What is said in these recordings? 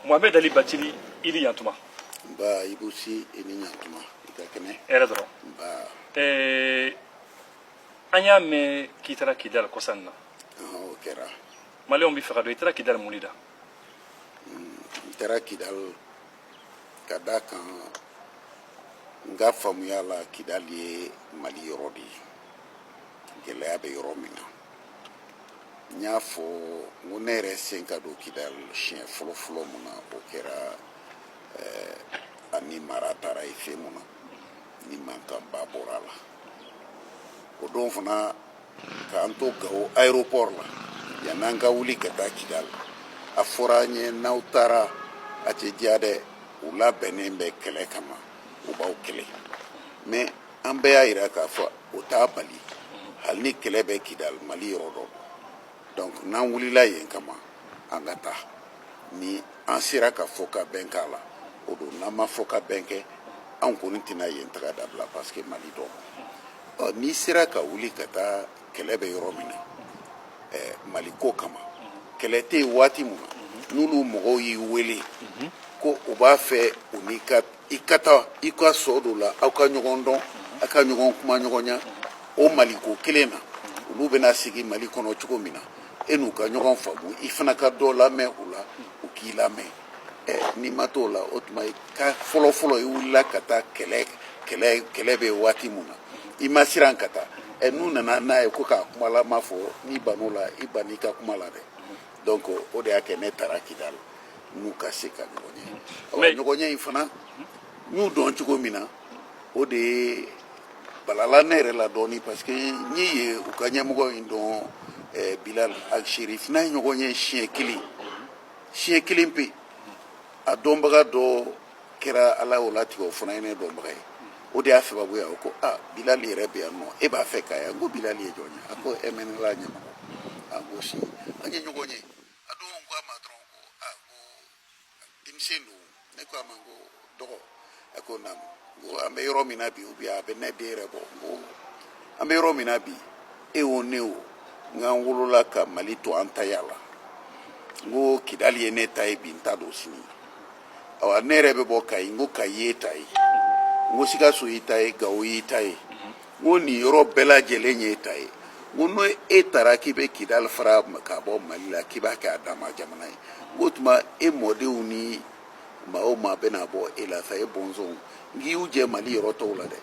Mohamed Ali Batili i ni yantuma. Nba Ibu Si i ni yantuma i ka kɛnɛ. Hɛrɛ dɔrɔn. Nba. Ɛɛ an y'a mɛn k'i taara Kidali kɔsa in na. Ɔhɔn o kɛra. Maliyɛnw b'a fɛ k'a dɔn i taara Kidali mun de la. N taara Kidali ka d'a kan n ka faamuya la Kidali ye Mali yɔrɔ de ye gɛlɛya bɛ yɔrɔ min na. n y'a fɔ n ko ne yɛrɛ sen ka don kidali siɲɛ fɔlɔ fɔlɔ mun na o kɛra eh, an ni mara taara i fɛ mun na ni mankanba bɔra a la o don fana k'an to gawo aéroport la yann'an ka wuli ka taa kidali a fɔra an ye n'aw taara a tɛ diya dɛ u labɛnnen bɛ kɛlɛ kama u b'aw kɛlɛ mɛ an bɛɛ y'a jira k'a fɔ o t'a bali hali ni kɛlɛ bɛ kidal mali yɔrɔ don donc n'an wulila yen kama an ka taa ni an sera ka fɔ ka bɛn k'a la o don n'an ma fɔ ka bɛn kɛ an kɔni tɛna yen taga dabila parce que mali don ɔ n'i sera ka wuli ka taa kɛlɛ bɛ yɔrɔ min na eh, mali ko kama kɛlɛ tɛ yen waati min na n'olu mɔgɔw y'i wele ko u b'a fɛ u n'i ka i ka taa i ka sɔ dɔ la aw ka ɲɔgɔn dɔn a ka ɲɔgɔn kuma ɲɔgɔnya o maliko kelen na olu bɛna sigi mali kɔnɔ cogo min na e n'u ka ɲɔgɔn faamu i fana ka dɔ lamɛn u la u k'i lamɛn ɛ n'i ma t'o la o tuma i ka fɔlɔfɔlɔ i wulila ka taa kɛlɛ kɛlɛ kɛlɛ bɛ waati min na i ma siran ka taa ɛ n'u nana n'a ye ko k'a kuma la ma fɔ n'i ban'o la i ban'i ka kuma la dɛ donc o de y'a kɛ ne taara kidali n'u ka se ka ɲɔgɔn ye ɔ ɲɔgɔn ye in fana n y'u dɔn cogo min na o de ye balala ne yɛrɛ la dɔɔni parce que n ye u ka ɲɛmɔgɔ in dɔn eh, bilal alserif n n'a ye ɲɔgɔn ye siɲɛ kelen siɲɛ kelen pe a dɔnbaga dɔ kɛra ala y'o latigɛ o fana ye ne dɔnbaga ye o de y'a sababu ye a ko a bilal yɛrɛ bɛ yan nɔ e b'a fɛ k'a ye n ko bilal ye jɔn ye a ko MNLA ɲɛmɔgɔ a ko si an ye ɲɔgɔn ye a don ko a ma dɔrɔn ko a ko denmisɛn don ne ko a ma n ko dɔgɔ a ko naamu n ko an bɛ yɔrɔ min na bi ubi a bɛ ne den yɛrɛ bɔ n ko an bɛ yɔrɔ min na bi e o ne o n k'an wolola ka mali to an ta y'a la n ko kidali ye ne ta ye bi n ta don sini awa ne yɛrɛ bɛ bɔ kayi n ko kayi y'i ta ye n ko sikaso y'i ta ye gawo y'i ta ye n ko nin yɔrɔ bɛɛ lajɛlen ye e ta ye n ko n'o e taara k'i bɛ kidali fara ka bɔ mali la k'i b'a kɛ a dama jamana ye n k'o tuma e mɔdenw ni maa o maa bɛna bɔ e la sa e bɔnsɔnw n k'i y'u jɛ mali yɔrɔ tɔw la dɛ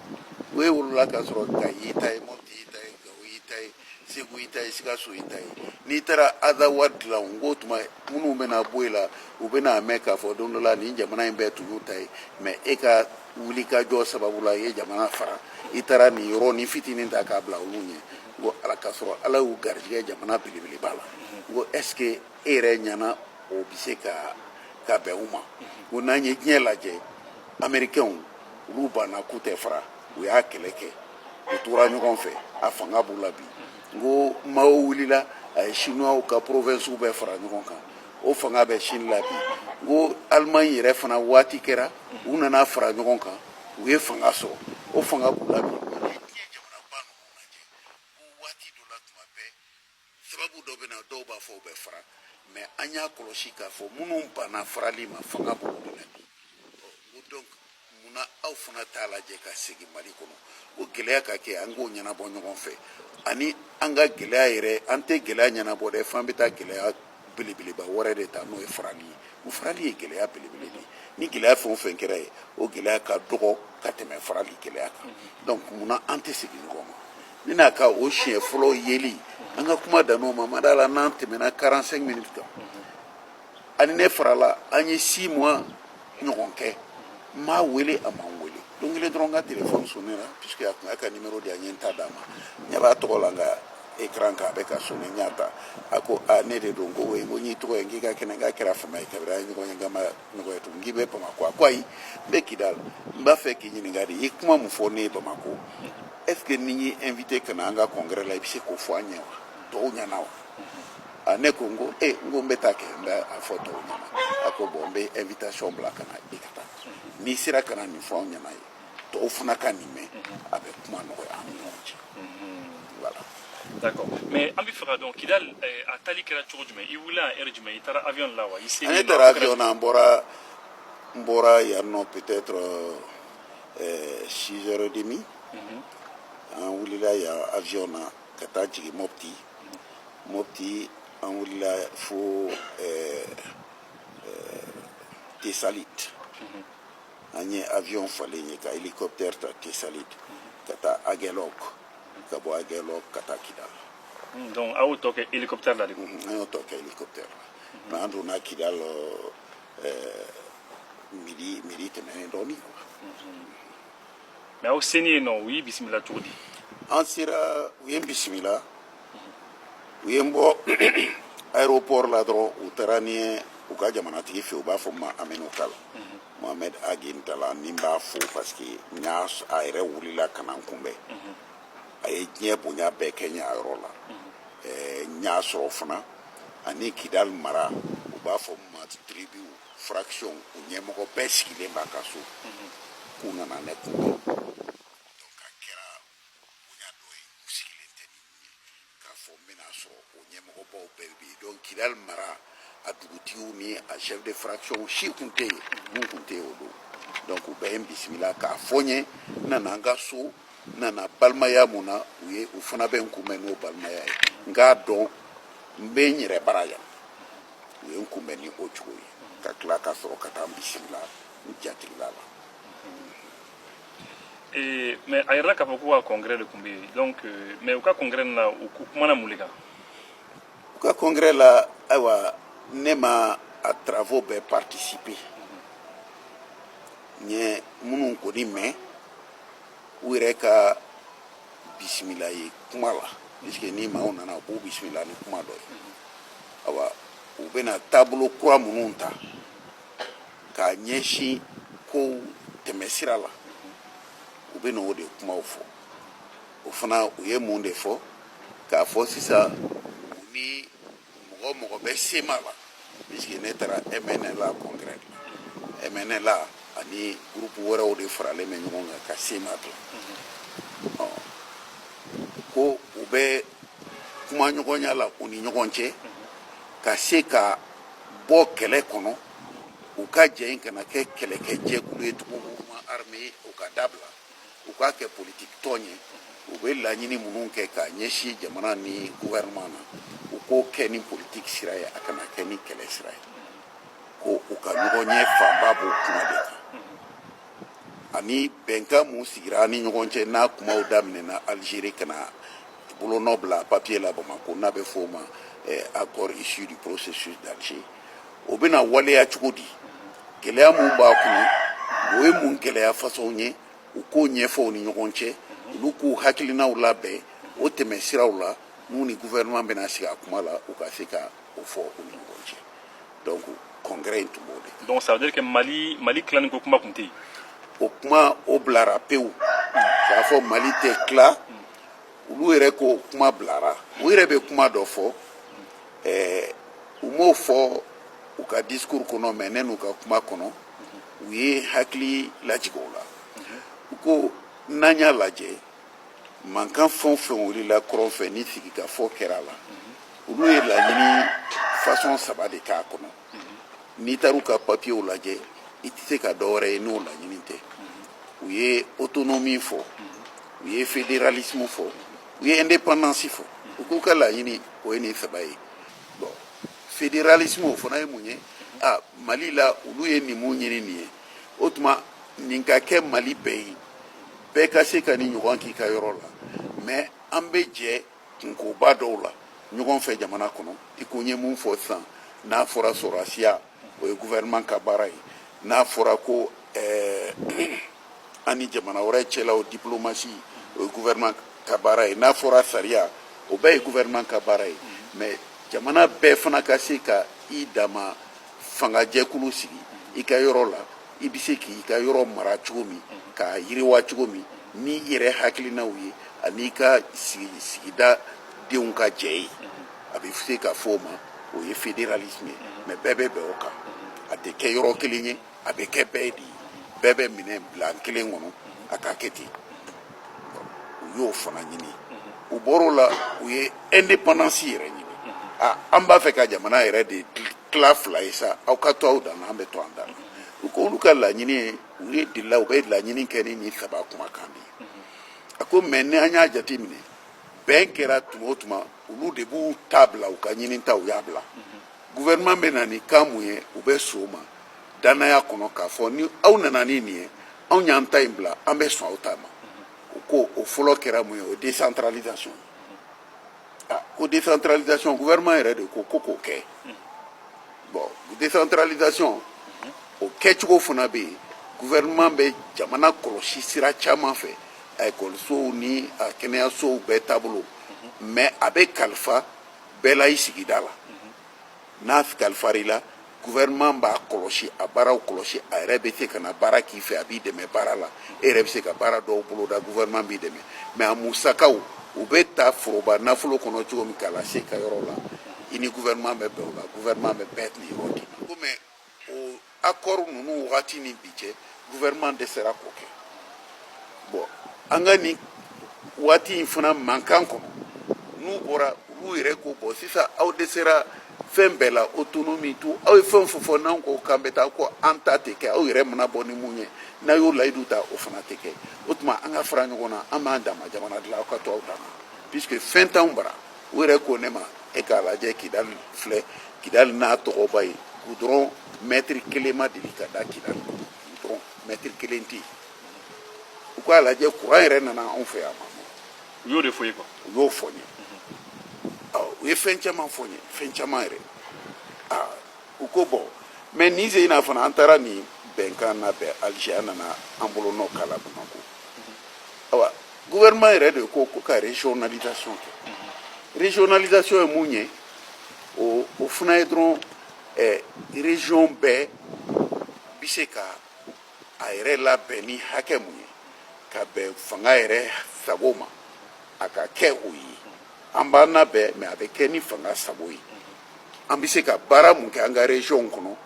o e wolola k'a sɔrɔ kayi y'i ta ye mɔti y'i ta ye gawo y'i ta ye segu i ta ye sikaso i ta ye n'i taara azawad dilan n ko tuma minnu bɛna bɔ i la u bɛna mɛn k'a fɔ don dɔ la nin jamana in bɛɛ tun y'u ta ye mɛ e ka wuli ka jɔ sababu la i ye jamana fara i taara nin yɔrɔnin fitinin ta k'a bila olu ɲɛ n ko ala k'a sɔrɔ ala y'u garijɛgɛ jamana belebeleba la n ko est ce que e yɛrɛ ɲɛna o bɛ se ka ka bɛn u ma n ko n'an ye diɲɛ lajɛ amerikɛnw olu banna k'u tɛ fara u y'a kɛlɛ kɛ u tora ɲɔgɔn fɛ a fanga b'u la bi n ko mao wulila a ye sinuwaw ka porovensiw bɛɛ fara ɲɔgɔn kan o fanga bɛ chine la bi n ko alimaɲi yɛrɛ fana waati kɛra u nana fara ɲɔgɔn kan u ye fanga sɔrɔ o fanga b'u la bi sababu dɔ bɛna dɔw b'a fɔ u bɛ fara mɛ an y'a kɔlɔsi k'a fɔ minnu banna farali ma fanga b'olu de la bi ko donc munna aw fana t'a lajɛ ka segin mali kɔnɔ o gɛlɛya ka kɛ an k'o ɲɛnabɔ ɲɔgɔn fɛ ani an ka gɛlɛya yɛrɛ an tɛ gɛlɛya ɲɛnabɔ dɛ f'an bɛ taa gɛlɛya belebeleba wɛrɛ de ta n'o ye farali ye o farali ye gɛlɛya belebele de ye ni gɛlɛya fɛn o fɛn kɛra yen o gɛlɛya ka dɔgɔ ka tɛmɛ farali gɛlɛya kan donc munna an tɛ segin ɲɔgɔn ma ne n'a ka o siɲɛ fɔlɔ yeli an ka kuma dann'o ma n ma d'a la n'an tɛmɛna 45 minutes kan a ni ne farala an ye 6 mois ɲɔgɔn kɛ n m'a wele a ma n wele don kelen dɔrɔn n ka telefɔni sonnela puisque a tun k'a ka nimero di yan n ye n ta d'a ma n ɲɛ b'a tɔgɔ la n ka ekran kan a bɛ ka sonne n y'a ta a ko a ne de don ko ouais ko n y'i tɔgɔ ye k'i ka kɛnɛ k'a kɛra fama ye kabiri an ye ɲɔgɔn ye nka an ma ɲɔgɔn ye tugun k'i bɛ bamakɔ a ko ayi n bɛ kidal n b'a fɛ k'i ɲininka de i ye kuma min fɔ ne ye bamakɔ est ce que ni n y'i invité ka na an ka congrès la i bɛ se k'o fɔ an ɲɛ wa tɔw ɲɛna wa a ne ko n ko e n ko n bɛ taa kɛ n bɛ a fɔ tɔw ɲɛna a ko bon n bɛ invitation bila ka na i ka taa n'i sera ka na nin fɔ anw ɲɛna yen tɔw fana ka nin mɛn a bɛ kuma nɔgɔya an ni ɲɔgɔn cɛ voilà. D'accord. Mais an b'a fɛ k'a dɔn Kidali eh, a taali kɛra cogo jumɛn i wulila a heure jumɛn i taara avion la wa i se ne taara avion na n bɔra n bɔra yan nɔ peut-être euh, 6 heures et demie an wulila yan avion na ka taa jigin mɔpti mɔpti an wulila fo tesalit an ye avion falen yen ka hélicoptère ta tesalit ka taa agɛlɔk ka bɔ agɛlɔk ka taa kidal hmm, donc aw y'o tɔ kɛ hélicoptère la de hmm, an y'o tɔ kɛ hélicoptère la hmm. mɛ an donna kidal midi midi tɛmɛnen dɔɔnin quoi mais aw seni yen nɔ u y'i bisimila cogo di an sera u ye n bisimila u ye n bɔ aéroport la dɔrɔn u taara ni n ye u ka jamanatigi fɛ u b'a fɔ ma amenokal mohamed ag intalla ne b'a fo parce que n y'a s- a yɛrɛ wulila ka na n kunbɛn a ye diɲɛ bonya bɛɛ kɛ n ye a yɔrɔ la Ɛɛ, n y'a sɔrɔ fana ani kidal mara u b'a fɔ ma tribu fraction u ɲɛmɔgɔ bɛɛ sigilen b'a ka so mhm. k'u nana ne kunbɛn donc a kɛra bonya dɔ ye u sigilen tɛ ni ye k'a fɔ n bɛna sɔrɔ o ɲɛmɔgɔbaw bɛɛ bɛ yen donc kidali mara a dugutigiw ni a chef de fraction si tun tɛ yen mun tun tɛ yen o don donc u bɛɛ ye n bisimila k'a fɔ n ye n nana n ka so n nana balimaya mun na u ye u fana bɛ n kunbɛn n'o balimaya ye n k'a dɔn n bɛ n yɛrɛ bara yan u ye n kunbɛn ni o cogo ye ka tila ka sɔrɔ ka taa n bisimila n jatigila la Eh, mais a yɛrɛ la k'a fɔ k'u ka congrès de tun bɛ yen donc euh, mais u ka congrès nin na u ku- kumana mun de kan u ka congrès la ayiwa ne ma a travaux bɛɛ participer n ye minnu kɔni mɛn u yɛrɛ ka bisimilali kuma la puisque ni maaw nana u b'u bisimila ni kuma dɔ ye awa u bɛna taabolo kura minnu ta k'a ɲɛsin kow tɛmɛsira la u bɛna o de kumaw fɔ o fana u ye mun de fɔ k'a fɔ sisan u ni mɔgɔ o mɔgɔ bɛ cma la puisque ne taara mnla congrès la mnla ani groupe wɛrɛw de faralen bɛ ɲɔgɔn kan ka cma dilan ko u bɛ kumaɲɔgɔnya la u ni ɲɔgɔn cɛ ka se ka bɔ kɛlɛ kɔnɔ u ka jɛ in kana kɛ kɛlɛkɛ jɛkulu ye tugun mouvement armé ye u k'a dabila u k'a kɛ politiki tɔn ye u bɛ laɲini minnu kɛ k'a ɲɛsin jamana ni gouvernement na u k'o kɛ ni politiki sira ye a kana kɛ ni kɛlɛ sira ye ko u ka ɲɔgɔnye fanba b'o kuma de kan ani bɛnkan mun sigira ni ɲɔgɔn cɛ n'a kumaw daminɛna Algérie ka na bolonɔ bila papier la Bamako n'a bɛ fɔ o ma eh, accord issu du processus d'Alger o bɛna waleya cogo di gɛlɛya minnu b'a kɔnɔ o ye mun gɛlɛya façon ye u k'o ɲɛfɔ u ni ɲɔgɔn cɛ olu k'u hakilinaw labɛn o tɛmɛsiraw la n'u ni gouvernement bɛna sigi a kuma la u ka se ka o fɔ u ni ɲɔgɔn cɛ donc congrès in tun b'o de donc ça veut dire que mali mali tilani ko kuma tun tɛ yen o kuma o bilara pewu k'a fɔ mali tɛ tila olu yɛrɛ ko kuma bilara u yɛrɛ bɛ kuma dɔ fɔ ɛɛ u m'o fɔ u ka discours kɔnɔ mais ne n'u ka kuma kɔnɔ u ye hakili lajigin o la u ko n'an y'a lajɛ mankan fɛn o fɛn wulila kɔrɔn fɛ ni sigikafɔ kɛra a la olu ye laɲini fasɔn saba de k'a kɔnɔ n'i taara u ka papiyew lajɛ i tɛ se ka dɔ wɛrɛ ye n'o laɲini tɛ u ye autonomie fɔ u ye fédéralisme fɔ u ye indépendance fɔ u k'u ka laɲini o ye nin saba ye bon fédéralisme o fana ye mun ye a mali la olu ye nin mun ɲini nin ye o tuma nin ka kɛ mali bɛɛ ye bɛɛ ka se ka nin ɲɔgɔn k'i ka yɔrɔ la mais an bɛ jɛ kunkoba dɔw la ɲɔgɔn fɛ jamana kɔnɔ i ko n ye mun fɔ sisan n'a fɔra sɔrɔdasiya o ye gouvernement ka baara ye n'a fɔra ko eh, an ni jamana wɛrɛ cɛlaw diplomasi o ye gouvernement ka baara ye n'a fɔra sariya o bɛɛ ye gouvernement ka baara ye mais jamana bɛɛ fana ka se ka i dama fangajɛkulu sigi i ka yɔrɔ la i bɛ se k'i ka yɔrɔ mara cogo min k'a yiriwa cogo min n'i yɛrɛ hakilinaw ye ani i ka sigida denw ka jɛ ye a bɛ se ka fɔ o ma o ye fédéralisme ye mais bɛɛ bɛ bɛn o kan a tɛ kɛ yɔrɔ kelen ye a bɛ kɛ bɛɛ de ye bɛɛ bɛ minɛ plan kelen kɔnɔ a ka kɛ ten u y'o fana ɲini u bɔr'o la u ye indépendance yɛrɛ ɲini a an b'a fɛ ka jamana yɛrɛ de tila fila ye sa aw ka to aw dan na an bɛ to an dan na u ko olu ka laɲini ye o ye delila u bɛ laɲini kɛ ni nin saba kumakan de ye a ko mais ni an y'a jate minɛ bɛn kɛra tuma o tuma olu de b'u ta bila u ka ɲininta u y'a bila gouvernement bɛ na ni kan min ye u bɛ sɔn o ma dannaya kɔnɔ k'a fɔ ni aw nana ni nin ye anw y'an ta in bila an bɛ sɔn aw ta ma u ko o fɔlɔ kɛra mun ye o décentralisation ah, ko décentralisation gouvernement yɛrɛ de ko ko k'o kɛ bon décentralisation o kɛcogo fana bɛ yen gouvernement bɛ jamana kɔlɔsi sira caman fɛ a ekɔlisow ni a kɛnɛyasow bɛɛ taabolo mais a bɛ kalifa bɛɛ la i sigida la n'a kalifar'i la gouvernement b'a kɔlɔsi a baaraw kɔlɔsi a yɛrɛ bɛ se ka na baara k'i fɛ a b'i dɛmɛ baara la e yɛrɛ bɛ se ka baara dɔw boloda gouvernement b'i dɛmɛ mais a musakaw u bɛ ta foroba nafolo kɔnɔ cogo min k'a lase i ka yɔrɔ la i ni gouvernement bɛ bɛn o la gouvernement bɛ bɛɛ niyɔrɔ d'i ma ko mais o akɔri ninnu wagati ni bi cɛ gouvernement dɛsɛra k'o kɛ bon an ka nin waati in fana mankan kɔnɔ n'u bɔra olu yɛrɛ ko bɔn sisan aw dɛsɛra fɛn bɛɛ la autonomie tout aw ye fɛn fɛn fɔ n'an ko k'an bɛ taa ko an ta tɛ kɛ aw yɛrɛ mana bɔ ni mun ye n'a y'o layidu ta o fana tɛ kɛ o tuma an ka fara ɲɔgɔn na an b'an dama jamana dilan aw ka to aw dama puisque fɛn t'anw bara u yɛrɛ ko ne ma e k'a lajɛ kidali filɛ kidali n'a tɔgɔba ye gudɔrɔn mɛtiri kelen ma deli ka da kidali gudɔrɔn mɛtiri kelen tɛ yen u k'a lajɛ kuran yɛrɛ nana anw fɛ yan ma u y'o de fɔ n ye kuwa u y'o fɔ n ye u ye fɛn caman fɔ n ye fɛn caman yɛrɛ u ko bɔn mɛ nin sen in na fana an taara nin bɛnkan labɛn alize an nana an bolonɔ k'a la bamakɔ awa gouvernement yɛrɛ de ko ko ka régionalisation kɛ mhm. régionalisation ye mun ye o o fana ye dɔrɔn eh, région bɛɛ bɛ se ka a yɛrɛ labɛn ni hakɛ mun ye ka bɛn fanga yɛrɛ sago ma a ka kɛ o ye an b'an labɛn mɛ a bɛ kɛ ni fanga sago ye an bɛ se ka baara mun kɛ an ka région kɔnɔ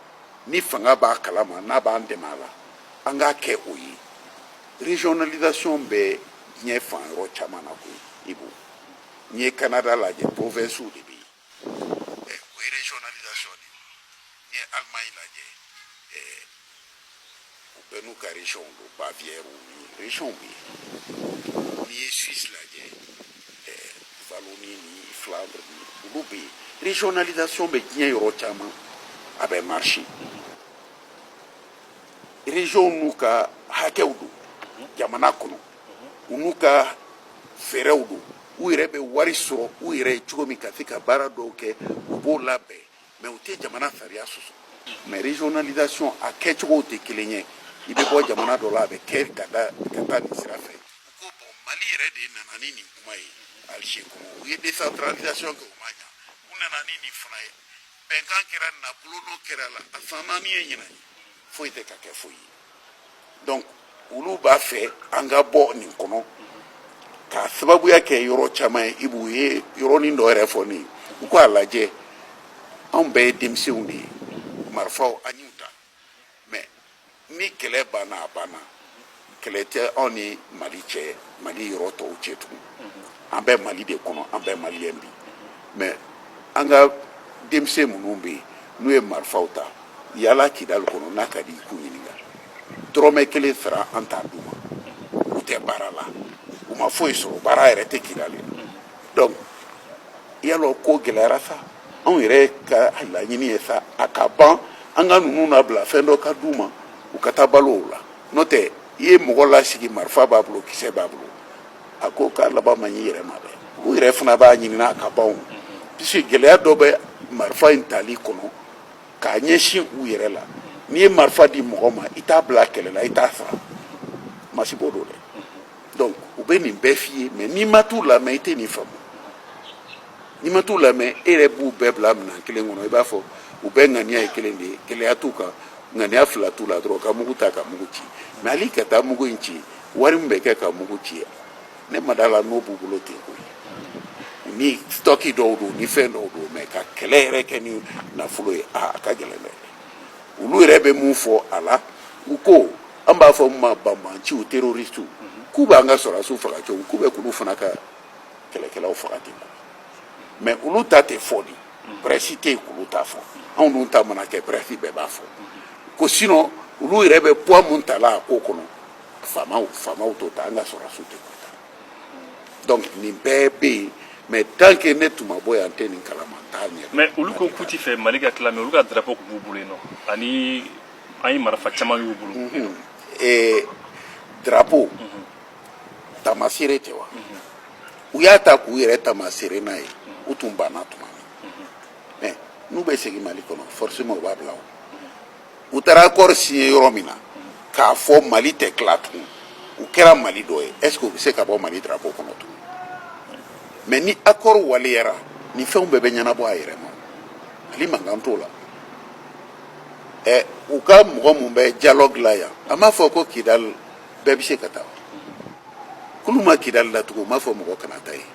ni fanga b'a kalama n'a b'an dɛmɛ a la an k'a kɛ o ye regionalisation bɛ diɲɛ fan yɔrɔ caman na koyi i b'o n'i ye Canada lajɛ provinces de bɛ yen eh, o ye regionalisation de ye n'i ye Allemagne lajɛ eh, u bɛɛ n'u ka région don Bavière ni région bɛ yen n'i ye Suisse lajɛ eh, Wallonie ni Flandre ni olu bɛ yen regionalisation bɛ diɲɛ yɔrɔ caman a bɛ marcher. region n'u ka hakɛw don jamana kɔnɔ u n'u ka fɛɛrɛw don u yɛrɛ bɛ wari sɔrɔ u yɛrɛ ye cogo min ka se ka baara dɔw kɛ u b'o labɛn mɛ u tɛ jamana sariya sɔsɔ mɛ regionalisation a kɛcogow tɛ kelen ye i bɛ bɔ jamana dɔ la a bɛ kɛ ka da ka taa nin sira fɛ u ko bɔn mali yɛrɛ de nana ni nin kuma ye alize kɔnɔ u ye decentralisation kɛ o ma ɲa u nana ni nin fana ye bɛnkan kɛra n'a bolonɔ kɛra a la a san min ye ɲinan foyi tɛ ka kɛ foyi ye donc olu b'a fɛ an ka bɔ nin kɔnɔ k'a sababuya kɛ yɔrɔ caman ye i b'u ye yɔrɔnin dɔ yɛrɛ fɔ ne ye u k'a lajɛ anw bɛɛ ye denmisɛnw de ye marifaw an y'u ta mɛ ni kɛlɛ banna a banna kɛlɛ tɛ anw ni mali cɛ mali yɔrɔ tɔw cɛ tugun an bɛ mali de kɔnɔ an bɛ maliyɛn bi mɛ an ka denmisɛn minnu bɛ yen n'u ye marifaw ta yaala kidali kɔnɔ n'a ka di i k'u ɲininka dɔrɔmɛ kelen sara an t'a d'u ma u tɛ baara la u ma foyi sɔrɔ baara yɛrɛ tɛ kidali donc baloko gɛlɛyara sa anw yɛrɛ ka laɲini ye sa a ka ban an ka ninnu labila fɛn dɔ ka d'u ma u ka taa balo o la n'o tɛ i ye mɔgɔ lasigi marifa b'a bolo kisɛ b'a bolo a ko k'a laban man ɲi i yɛrɛ ma dɛ u yɛrɛ fana b'a ɲinina a ka ban puisque gɛlɛya dɔ bɛ marifa in tali kɔnɔ k'a ɲɛsin u yɛrɛ la n'i ye marifa di mɔgɔ ma i t'a bila kɛlɛ la i t'a sara masiba don dɛ donc u bɛ nin bɛɛ f'i ye mais n'i ma t'u lamɛn i tɛ nin faamu n'i ma t'u lamɛn e yɛrɛ b'u bɛɛ bila minɛn kelen kɔnɔ i b'a fɔ u bɛɛ ŋaniya ye kelen de ye gɛlɛya t'u kan ŋaniya fila t'u la dɔrɔn ka mugu ta ka mugu ci mɛ hali ka taa mugu in ci wari min bɛ kɛ ka mugu ci ne ma d'a la n'o b'u bolo ten ko ye ni stɔki dɔw don ni fɛn dɔw don mɛ ka kɛlɛ yɛrɛ kɛ ni nafolo ye a ka gɛlɛn dɛ olu yɛrɛ bɛ mun fɔ a la u ko an b'a fɔ min ma banbaanciw terorisiw k'u b'an ka sɔrɔdasiw faga cogo k'u bɛ k'olu fana ka kɛlɛkɛlaw faga ten ko mɛ olu ta tɛ fɔ dɛ prɛsi tɛ yen k'olu ta fɔ anw dun ta mana kɛ prɛsi bɛɛ b'a fɔ ko sinɔn olu yɛrɛ bɛ puwa mun ta la a ko kɔnɔ fama famaw t'o ta an ka sɔrɔdasiw tɛ k'o ta donc nin bɛɛ bɛ yen mɛ tant que ne tun ma bɔ yan n tɛ nin kalama n t'a ye mɛ olu ko k'u ti fɛ mali ka tila mɛ olu ka drapo tun b'u bolo yen non ani an ye marafa caman y'u bolo ee drapo taamaseere tɛ wa u y'a ta k'u yɛrɛ taamaseere n'a ye u tun banna tuma min mɛ n'u bɛ segin mali kɔnɔ forcément u b'a bila o u taara accord signé yɔrɔ min na k'a fɔ mali tɛ tila tugun u kɛra mali dɔ ye est ce que u bɛ se ka bɔ mali drapeau kɔnɔ tugun mɛ ni accord waleyara ni fɛnw bɛɛ bɛ ɲɛnabɔ a yɛrɛ ma mali mankan t'o la ɛ u ka mɔgɔ mun bɛ dialogue la yan an b'a fɔ ko kidali bɛɛ bɛ se ka taa kulu ma kidali la tugun u m'a fɔ mɔgɔ kana taa yen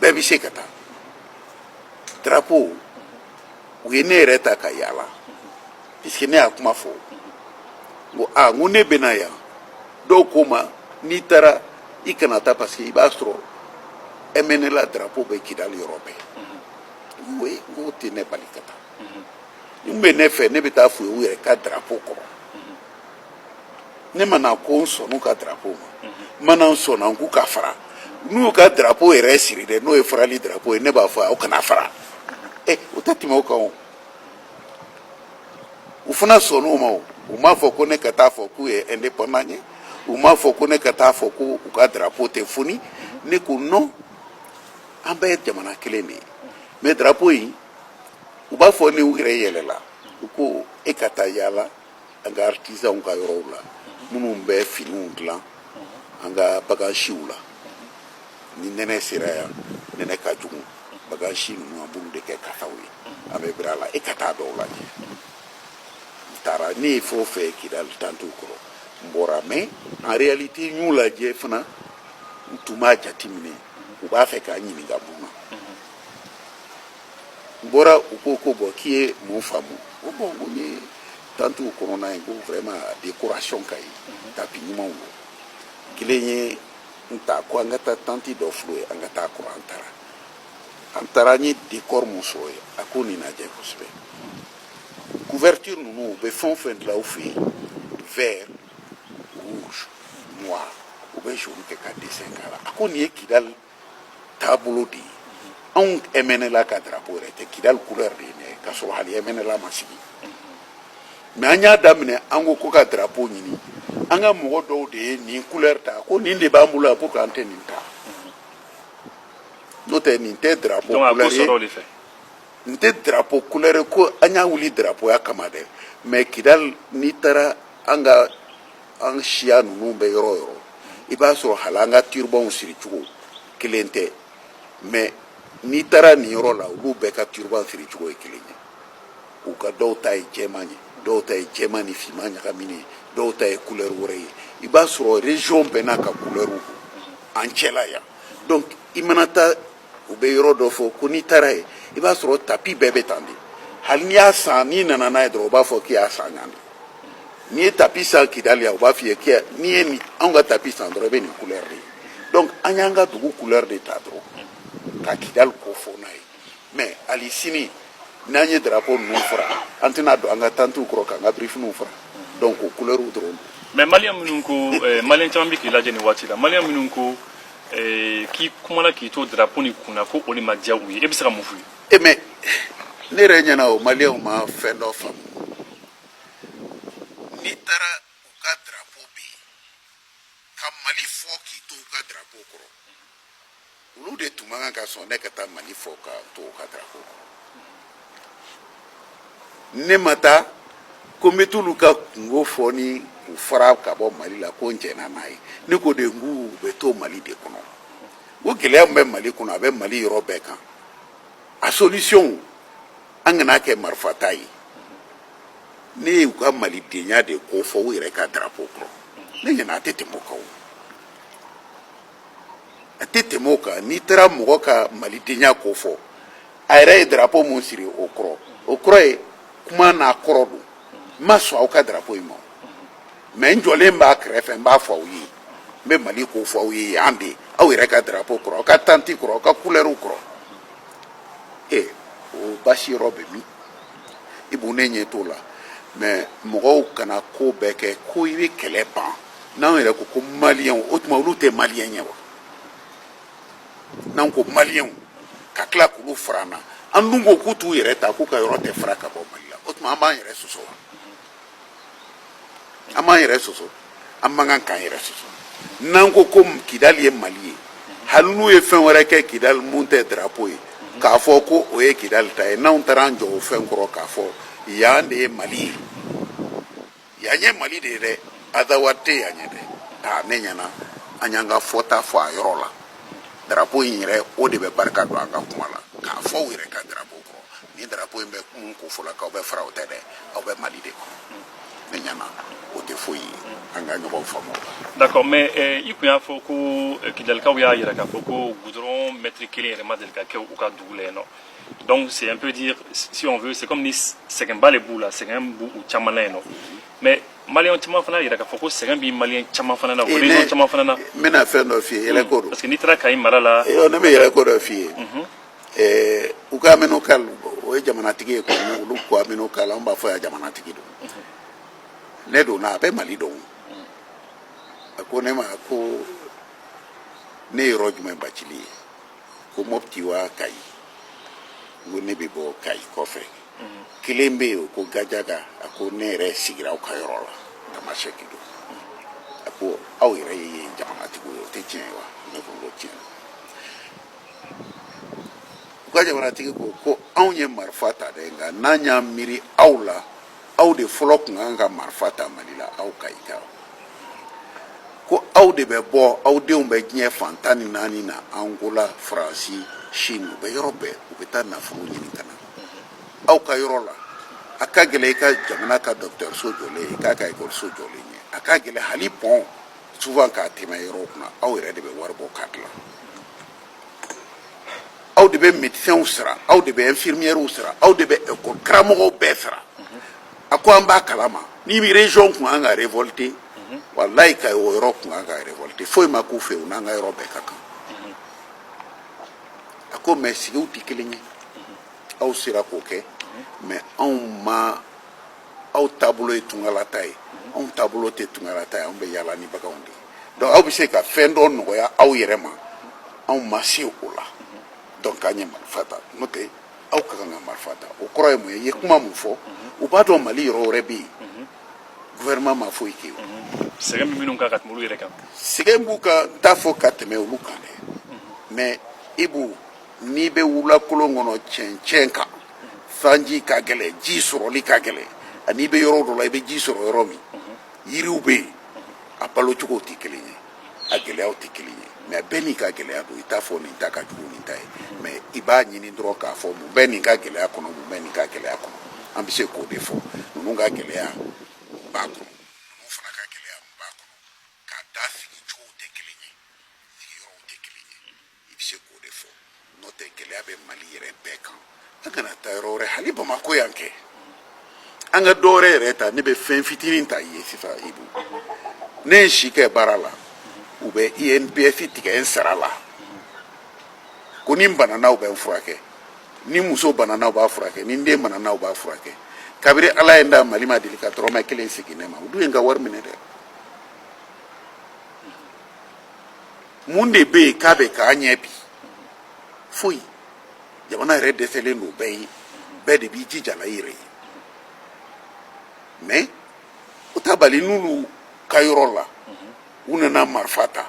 bɛɛ bɛ se ka taa drapeau u ye ne yɛrɛ ta ka yaala puisque ne y'a kuma fɔ n ko a n ko ne bɛ na yan dɔw ko n ma n'i taara i kana taa parce que i b'a sɔrɔ mnla drapeau bɛ kidali yɔrɔ bɛɛ n ko e n k'o tɛ ne bali ka taa n'u bɛ ne fɛ ne bɛ taa f'u ye u yɛrɛ ka drapeau kɔrɔ ne ma na ko n sɔnn'u ka drapo ma n mhm. ma na n sɔnna n k'u ka fara n'u ka drapo yɛrɛ siri dɛ n'o ye farali drapo ye ne b'a fɔ aw kana fara mhm. e o tɛ tɛmɛ o kan o u fana sɔnn'o ma o u m'a fɔ ko ne ka taa fɔ k'u ye indépendant ye u m'a fɔ ko ne ka taa fɔ ko u ka drapo tɛ foni mhm. ne ko non an bɛɛ ye jamana kelen de ye mais drapo in u b'a fɔ ni u yɛrɛ yɛlɛla u ko e ka taa yaala an ka artisanw ka yɔrɔw la minnu bɛ finiw dilan an ka bagansiw la ni nɛnɛ sera yan nɛnɛ ka jugu bagansi ninnu an b'olu de kɛ kataw ye an bɛ biri a la e ka taa dɔw lajɛ n taara ne ye fɛn o fɛn ye kidali tantiw kɔrɔ n bɔra mais en réalité n y'u lajɛ fana n tun b'a jateminɛ u b'a fɛ ka n ɲininka mun na n bɔra u ko ko bon k'i ye mun faamu o bon ko n ye tantiw kɔnɔna ye ko vraiment décoration ka ɲi tapi ɲumanw don kelen ye n ta ko an ka taa tanti dɔ filɛ yen an ka taa kɔrɔ an taara an taara n ye décor min sɔrɔ yen a ko nin lajɛ kosɛbɛ couverture ninnu u bɛ fɛn o fɛn dilan u fɛ yen vert rouge noir u bɛ jaune kɛ ka dessin k'a la a ko nin ye kidali taabolo de ye anw ɛmɛnɛla ka darapo yɛrɛ tɛ kidali couleur de ye ne ka sɔrɔ hali ɛmɛnɛla ma sigi mais an y'a daminɛ an ko ko ka darapo ɲini an ka mɔgɔ dɔw de ye nin couleur ta ko nin de b'an bolo yan pour que an tɛ nin ta n'o tɛ nin tɛ darapo couleur ye nin tɛ darapo couleur ye ko an y'a wuli darapoya kama dɛ mais kidali n'i taara an ka an siya ninnu bɛ yɔrɔ yɔrɔ i b'a sɔrɔ hali an ka turbanw siri cogo kelen tɛ mais n'i taara nin yɔrɔ la olu bɛɛ ka turban siri cogo ye kelen ye u ka dɔw ta ye jɛman ye dɔw ta ye jɛman ni finman ɲagaminen ye dɔw ta ye kulɛri wɛrɛ ye i b'a sɔrɔ région bɛɛ n'a ka kulɛriw don an cɛla yan donc i mana taa u bɛ yɔrɔ dɔ fɔ ko n'i taara yen i b'a sɔrɔ tapi bɛɛ bɛ tan de hali n'i y'a san n'i nana n'a ye dɔrɔn u b'a fɔ k'i y'a san yan de n'i ye tapi san kidali yan u b'a f'i ye k'i n'i ye nin anw ka tapi san dɔrɔn i bɛ nin couleur de ye donc an y'an ka dugu couleur de ta dɔrɔn ka kidali ko fɔ n'a ye mais hali sini n'an ye drapeau ninnu fara an tɛna don an ka tantiw kɔrɔ k'an ka birifiniw fara donc o couleur dɔrɔn don mais maliyɛn minnu ko eh, maliyɛn caman bɛ k'i lajɛ nin waati la maliyɛn minnu ko eh, k'i kumana k'i to drapeau nin kunna ko o de ma diya u ye e bɛ se ka mun f'u ye e eh, mais ne yɛrɛ ɲɛna o maliyɛnw ma fɛn dɔ faamu n'i taara u ka drapeau bɛ yen ka mali fɔ k'i to u ka drapeau kɔrɔ olu de tun man kan ka sɔn ne ka taa mali fɔ ka to u ka drapeau kɔrɔ ne ma taa ko n bɛ t'olu ka kunko fɔ ni u fara ka bɔ mali la ko n jɛnna n'a ye ne ko de n k'u bɛ to mali de kɔnɔ o gɛlɛya min bɛ mali kɔnɔ a bɛ mali yɔrɔ bɛɛ kan a solution an kana a kɛ marifata ye ne y'u ka malidenya de ko fɔ u yɛrɛ ka darapo kɔrɔ ne ɲɛna a tɛ tɛmɛ o kan o a tɛ tɛmɛ o kan n'i taara mɔgɔ ka malidenya ko fɔ a yɛrɛ ye darapo min siri o kɔrɔ o kɔrɔ ye kuma n'a kɔrɔ don n ma sɔn aw ka darapo in ma mɛ n jɔlen b'a kɛrɛfɛ n b'a fɔ aw ye n bɛ mali ko fɔ aw ye yan de aw yɛrɛ ka darapo kɔrɔ aw ka tanti kɔrɔ aw ka kulɛriw kɔrɔ ee o basi yɔrɔ bɛ min i b'u ne ɲɛ t'o la mɛ mɔgɔw kana ko bɛɛ kɛ ko i bɛ kɛlɛ ban n'an yɛrɛ ko ko maliyɛnw o tuma olu tɛ maliyɛn ye wa n'an ko maliyɛnw ka tila k'olu fara an na an dun ko k'u t'u yɛrɛ ta k'u ka yɔrɔ tɛ fara ka bɔ mali la o tuma an b'an yɛrɛ sɔsɔ wa an b'an yɛrɛ sɔsɔ an man kan k'an yɛrɛ sɔsɔ n'an ko ko kidali ye mali ye hali n'u ye fɛn wɛrɛ kɛ kidali mun tɛ darapo ye k'a fɔ ko o ye kidali ta ye n'anw taara an jɔ o fɛn kɔrɔ k'a fɔ yan de ye mali ye Yan ye Mali de ye dɛ, Azawad tɛ yan ye dɛ. Aa ne ɲɛna an y'an ka fɔta fɔ a yɔrɔ la. Drapeau in yɛrɛ o de bɛ barika don an ka kuma la. K'a fɔ u yɛrɛ ka drapeau kɔrɔ. Ni drapeau in bɛ mun kofɔ la k'aw bɛ fara o tɛ dɛ, aw bɛ Mali de kɔnɔ. Ne ɲɛna o tɛ foyi ye. An ka ɲɔgɔn faamu o la. D'accord mais i tun y'a fɔ ko kidalikaw y'a jira k'a fɔ ko goudron mètre kelen yɛrɛ ma deli ka kɛ u ka dugu la yen nɔ. donc c'est on peut dire si on veut c'est comme ni sɛgɛnba de b'u la sɛgɛn b'u u caman na yen nɔ mais maliyɛn caman fana yira k'a fɔ ko sɛgɛn bɛ maliyɛn caman fana na o région caman fana na n bɛna fɛn dɔ f'i ye yɛlɛko don parce que n'i taara kayi mara la yɔrɔ ne bɛ yɛlɛko dɔ f'i ye ɛɛ u ka amenokal o ye jamanatigi ye komi olu ko amenokal an b'a fɔ yan jamanatigi don ne donna a bɛ mali dɔn a ko ne ma ko ne ye yɔrɔ jumɛn bacili ye ko mɔpti wa kayi n ko ne bɛ bɔ kayi kɔfɛ kelen bɛ yen ko gajaga a ko ne yɛrɛ sigira aw ka yɔrɔ la tamasɛki don a ko aw yɛrɛ ye jamanatigiw ye o tɛ tiɲɛ ye wa ne ko n ko tiɲɛ u ka jamanatigi ko ko anw ye marifa ta dɛ nka n'an y'an miiri aw la aw de fɔlɔ tun kan ka marifa ta mali la aw kayikaw ko aw de bɛ bɔ aw denw bɛ diɲɛ fan tan ni naani na angola faransi chine u bɛ yɔrɔ bɛɛ u bɛ taa nafolo ɲini ka na aw ka yɔrɔ la a ka gɛlɛ i ka jamana ka dɔgɔtɔrɔso jɔlen ye i k'a ka ekɔliso jɔlen ye a ka gɛlɛ hali pɔn souvent ka tɛmɛ yɔrɔw kunna aw yɛrɛ de bɛ wari bɔ k'a dilan aw de bɛ médecins sara aw de bɛ infirmières sara aw de bɛ école karamɔgɔw bɛɛ sara a ko an b'a kalama ni région tun kan ka révolter walayi kayi o yɔrɔ tun kan ka révolter foyi ma k'u fɛ u n'an ka yɔrɔ bɛɛ ka kan a ko mais sigiw tɛ kelen ye aw sera k'o kɛ mais anw ma aw taabolo ye tungalataa ye anw taabolo tɛ tungalataa ye anw bɛ yaala ni baganw de ye donc aw bɛ se ka fɛn dɔ nɔgɔya aw yɛrɛ ma anw ma se o la donc an ye marifa ta n'o tɛ aw ka kan ka marifa ta o kɔrɔ ye mun ye i ye kuma mun fɔ u b'a dɔn mali yɔrɔ wɛrɛ bɛ yen gouvernement ma foyi kɛ yen sɛgɛn bɛ minnu kan ka tɛmɛ olu yɛrɛ kan sɛgɛn b'u kan n t'a fɔ ka tɛmɛ olu kan dɛ mais ibu n'i bɛ wulakolon kɔnɔ cɛncɛn kan sanji ka gɛlɛn ji sɔrɔli ka gɛlɛn ani i bɛ yɔrɔ dɔ la i bɛ ji sɔrɔ yɔrɔ min yiriw bɛ yen a balo cogow tɛ kelen ye a gɛlɛyaw tɛ kelen ye mais bɛɛ n'i ka gɛlɛya don i t'a fɔ nin ta ka jugu nin ta ye mais i b'a ɲini dɔrɔn k'a fɔ mun bɛ nin ka gɛlɛya kɔnɔ mun bɛ nin ka gɛlɛya kɔnɔ an bɛ se k'o de fɔ ninnu ka gɛlɛya b'a kɔnɔ ninnu fana ka gɛlɛya b'a kɔnɔ k'a da sigi cogow tɛ kelen ye sigiyɔrɔw tɛ kelen ye i bɛ se k'o de fɔ n'o tɛ gɛlɛya bɛ mali yɛrɛ bɛɛ kan an kana taa yɔrɔ wɛrɛ hali bamakɔ yan kɛ an ka dɔ wɛrɛ yɛrɛ ta ne bɛ fɛn fitinin ta i ye sisan ibu ne ye si kɛ baara la u bɛ inps tigɛ n sara la ko ni n banana u bɛ n furakɛ ni muso banana u b'a furakɛ ni n den banana u b'a furakɛ kabiri ala ye n da mali ma deli ka dɔrɔmɛ kelen segin ne ma u dun ye n ka wari minɛ dɛ mun de bɛ yen k'a bɛ ka ɲɛ bi foyi jamana yɛrɛ dɛsɛlen don bɛɛ ye bɛɛ de b'i jija la i yɛrɛ ye mais o t'a bali n'olu ka yɔrɔ la u nana marifa ta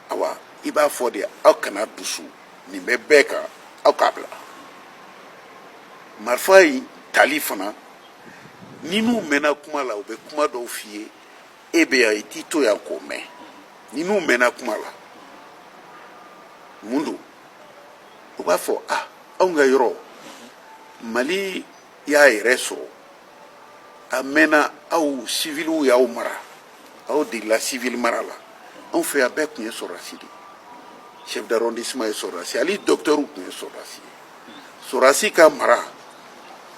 awa i b'a fɔ de aw kana dusu nin bɛ bɛɛ kan aw k'a bila marifa in tali fana n'i n'u mɛnna kuma la u bɛ kuma dɔw f'i ye e bɛ yan i t'i to yan k'o mɛn n'i n'u mɛnna kuma la mun don u b'a fɔ a anw ka yɔrɔ mali y'a yɛrɛ sɔrɔ a mɛnna aw siviliw y'aw mara aw degela sivili mara la anw fɛ yan bɛɛ tun ye sɔrɔdasi de ye chef d'arrondissement ye sɔrɔdasi ye hali dɔkitɛriw tun ye sɔrɔdasi ye Sɔrɔdasi ka mara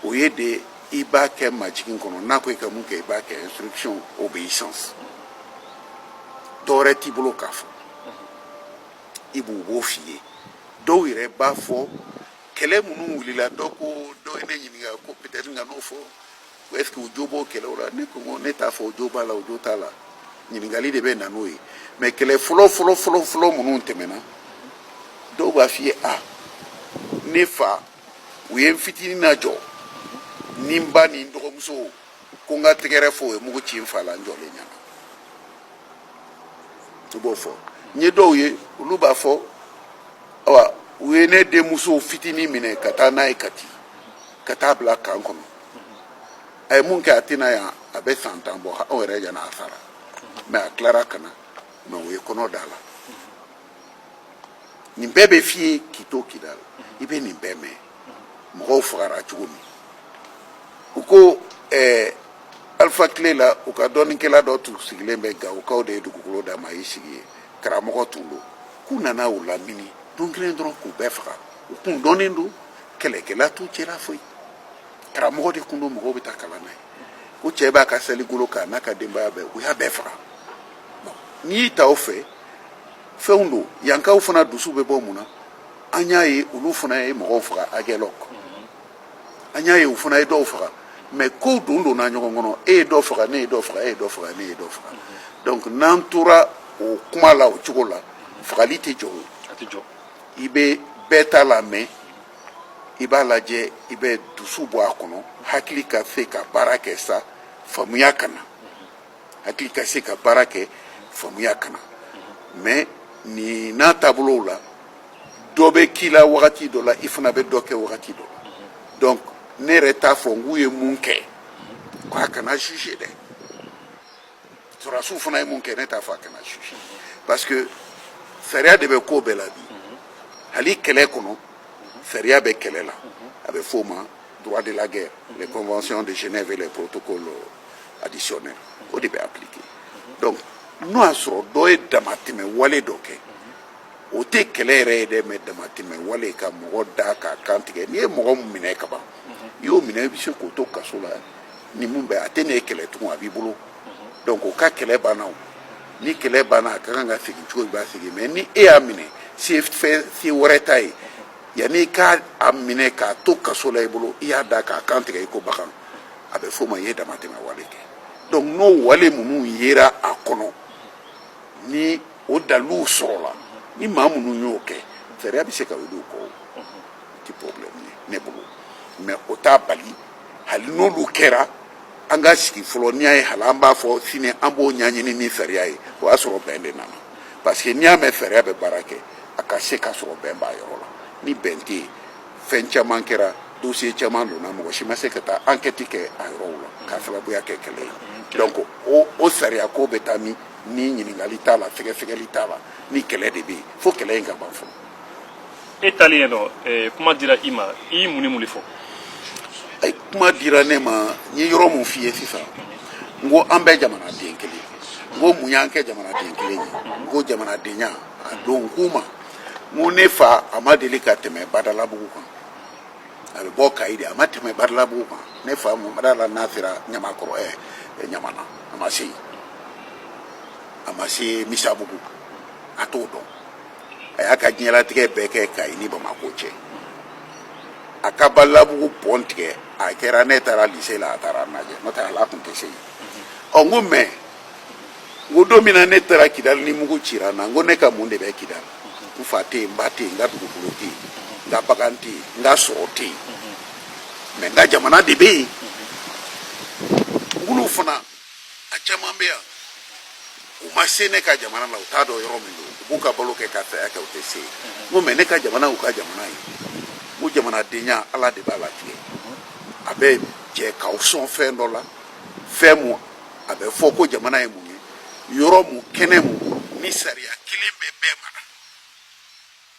o ye de i b'a kɛ majigin kɔnɔ n'a ko i ka mun kɛ i b'a kɛ instruction obéissance dɔwɛrɛ t'i bolo k'a fɔ ibu u b'o f'i ye dɔw yɛrɛ b'a fɔ kɛlɛ minnu wulila dɔ ko dɔ ye ne ɲininka ko peut-être n kan'o fɔ est-ce que o jo b'o kɛlɛw la ne ko ne t'a fɔ o jo b'a la o jo t'a la ɲininkali de bɛ na n'o ye mais kɛlɛ fɔlɔ fɔlɔ fɔlɔ fɔlɔ minnu tɛmɛna dɔw b'a f'i ye a ne fa u ye n fitinin lajɔ ni n ba ni n dɔgɔmuso ko n ka tɛgɛrɛ fɔ u ye mugu ci n fa la n jɔlen ɲɛna i b'o fɔ n ye dɔw ye olu b'a fɔ awa u ye ne denmuso fitinin minɛ ka taa n'a ye kati ka taa bila camp kɔnɔ a ye mun kɛ a tɛ na yan a bɛ san tan bɔ anw yɛrɛ ɲɛna a sara mais a tilara ka na mais o ye kɔnɔ da la nin bɛɛ bɛ f'i ye k'i to k'i da la i bɛ nin bɛɛ mɛn mɔgɔw fagara cogo min u ko ɛɛ alifa tile la u ka dɔnnikɛla dɔ tun sigilen bɛ gawukaw de ye dugukolo d'a ma a y'i sigi yen karamɔgɔ tun don k'u nana u lamini don kelen dɔrɔn k'u bɛɛ faga u kun dɔnnen don kɛlɛkɛla t'u cɛla foyi karamɔgɔ de tun don mɔgɔw bɛ taa kalan na yen ko cɛ b'a ka saligolo kan n'a ka denbaya bɛɛ u y'a bɛɛ faga n'i y'i ta o fɛ fɛnw don yankaw fana dusu bɛ bɔ mun na an y'a ye olu fana ye mɔgɔw faga agɛlɔk an y'a ye u fana ye dɔw faga mais kow don donna ɲɔgɔn kɔnɔ e ye dɔ faga ne ye dɔ faga e ye dɔ faga ne ye dɔ faga donc n'an tora o kuma la o cogo la fagali tɛ jɔ o i bɛ bɛɛ ta lamɛn i b'a lajɛ i bɛ dusu bɔ a kɔnɔ hakili ka se ka baara kɛ sa faamuya ka na hakili ka se ka baara kɛ faamuya ka na mais nin n'a taabolow la dɔ bɛ k'i la wagati dɔ la i fana bɛ dɔ kɛ wagati dɔ la donc ne yɛrɛ t'a fɔ n k'u ye mun kɛ k'a kana juger dɛ sɔrɔdasiw fana ye mun kɛ ne t'a fɔ a kana su parce que sariya de bɛ ko bɛɛ la bi hali kɛlɛ kɔnɔ sariya bɛ kɛlɛ la a bɛ f'o ma droit de la guerre les conventions de Genève et les protocoles additionnels o de bɛ appliquer donc n'o y'a sɔrɔ dɔ ye damatɛmɛ wale dɔ kɛ o tɛ kɛlɛ yɛrɛ ye dɛ mais damatɛmɛ wale ka mɔgɔ da k'a kan tigɛ n'i ye mɔgɔ minɛ kaban i y'o minɛ i bɛ se k'o to kaso la ni min bɛ a tɛna e kɛlɛ tugun a b'i bolo mhm. donc o ka kɛlɛ banna o ni kɛlɛ banna a ka kan ka segin cogo i b'a segin mais ni e y'a minɛ se fɛn se wɛrɛ t'a ye yanni i k'a minɛ k'a to kaso la i bolo i y'a da k'a kan tigɛ i ko bagan a bɛ f'o ma i ye damatɛmɛ wale kɛ donc n'o wale minnu yera a kɔnɔ ni o daliluw sɔrɔla ni maa minnu y'o kɛ sariya bɛ se ka wuli u kɔ o tɛ problème ye ne bolo mais o t'a bali hali n'olu kɛra an ka sigi fɔlɔ n'i y'a ye hali an b'a fɔ sini an b'o ɲɛɲini ni sariya ye o y'a sɔrɔ bɛn de nana parce que n'i y'a mɛn sariya bɛ baara kɛ a ka se ka sɔrɔ bɛn b'a yɔrɔ la ni bɛn tɛ yen fɛn caman kɛra dosiye caman donna mɔgɔ si ma se ka taa ankɛti kɛ a yɔrɔw la k'a sababuya kɛ kɛlɛ ye donc o o sariya ko bɛ taa min ni ɲininkali t'a la sɛgɛsɛgɛli t'a la ni kɛlɛ de bɛ yen fo kɛlɛ in ka ban fɔlɔ e taalen yen nɔ eh, kuma dira i ma i ye mun ni mun de fɔ Ay, kuma dira ne ma n ye yɔrɔ mun f'i ye sisan n ko an bɛɛ jamanaden kelen n ko mun y'an kɛ jamanaden kelen ye n ko jamanadenya a don n k'u ma n ko ne fa a ma deli ka tɛmɛ badalabugu kan a bɛ bɔ kayi de a ma tɛmɛ badalabugu kan ne fa n ma d'a la n'a sera ɲamakɔrɔ ɛ ɛ, ɲamana a ma se yen a ma se misabugu a t'o dɔn a y'a ka diɲɛlatigɛ bɛɛ kɛ kayi ni bamako cɛ a ka badalabugu pɔn tigɛ a kɛra ne taara lise la a taara n lajɛ n'o tɛ ale tun tɛ se yen ɔ n ko mɛ n ko don min na ne taara kidali ni mugu cira n na n ko ne ka mun de bɛ kidali n fa tɛ yen n ba tɛ yen n ka dugukolo tɛ yen n ka bagan tɛ yen n ka sɔrɔ tɛ yen mɛ n ka jamana de bɛ yen n k'olu fana a caman bɛ yan u ma se ne ka jamana la u t'a dɔn yɔrɔ min don u b'u ka balo kɛ ka saya kɛ u tɛ se yen n ko mɛ ne ka jamana u ka jamana ye ko jamanadenya ala de b'a latigɛ a bɛ jɛ k'aw sɔn fɛn dɔ la fɛn mu a bɛ fɔ ko jamana ye mun ye yɔrɔ mu kɛnɛ mu ni sariya kelen bɛ bɛɛ mara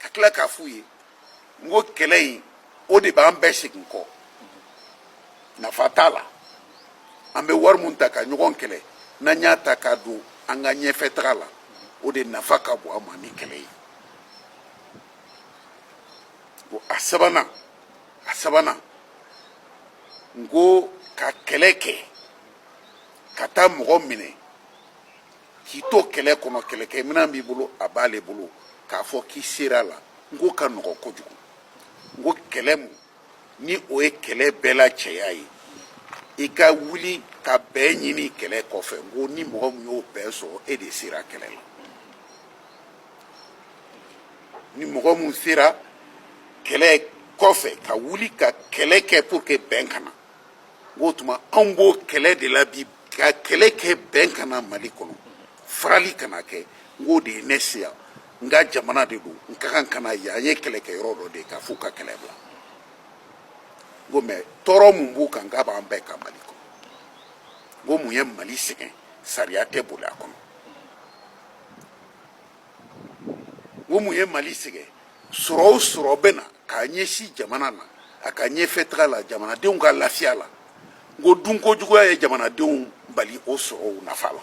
ka tila k'a f'u ye n ko kɛlɛ in o de b'an bɛɛ segin kɔ nafa t'a la an bɛ wari mun ta ka ɲɔgɔn kɛlɛ n'an y'a ta k'a don an ka ɲɛfɛ taga la o de nafa ka bon an ma ni kɛlɛ ye ko a sabanan a sabanan n ko ka kɛlɛ kɛ ka taa mɔgɔ minɛ k'i to kɛlɛ kɔnɔ kɛlɛkɛminɛn b'i bolo a b'ale bolo k'a fɔ k'i sera la n k'o ka nɔgɔ kojugu n ko kɛlɛ mu ni o ye kɛlɛ bɛɛ la cɛya ye i ka wuli ka bɛn ɲini kɛlɛ kɔfɛ n ko ni mɔgɔ min y'o bɛn sɔrɔ e de sera kɛlɛ la ni mɔgɔ min sera kɛlɛ kɔfɛ ka wuli ka kɛlɛ kɛ pour que bɛn ka na n k'o tuma anw b'o kɛlɛ de la bi ka kɛlɛ kɛ bɛn ka na mali kɔnɔ farali kana kɛ n k'o de ye ne se yan n ka jamana de don n ka kan ka na yan n ye kɛlɛkɛyɔrɔ dɔ de ye k'a f'u ka kɛlɛ bila n ko mɛ tɔɔrɔ mun b'u kan n k'a b'an bɛɛ kan mali kɔnɔ n ko mun ye mali sɛgɛn sariya tɛ boli a kɔnɔ ko mun ye mali sɛgɛn sɔrɔ o sɔrɔ bɛ na k'a ɲɛsin jamana na a ka ɲɛfɛ taga la jamanadenw ka lafiya la n ko dunko juguya ye jamanadenw bali o sɔrɔw nafa la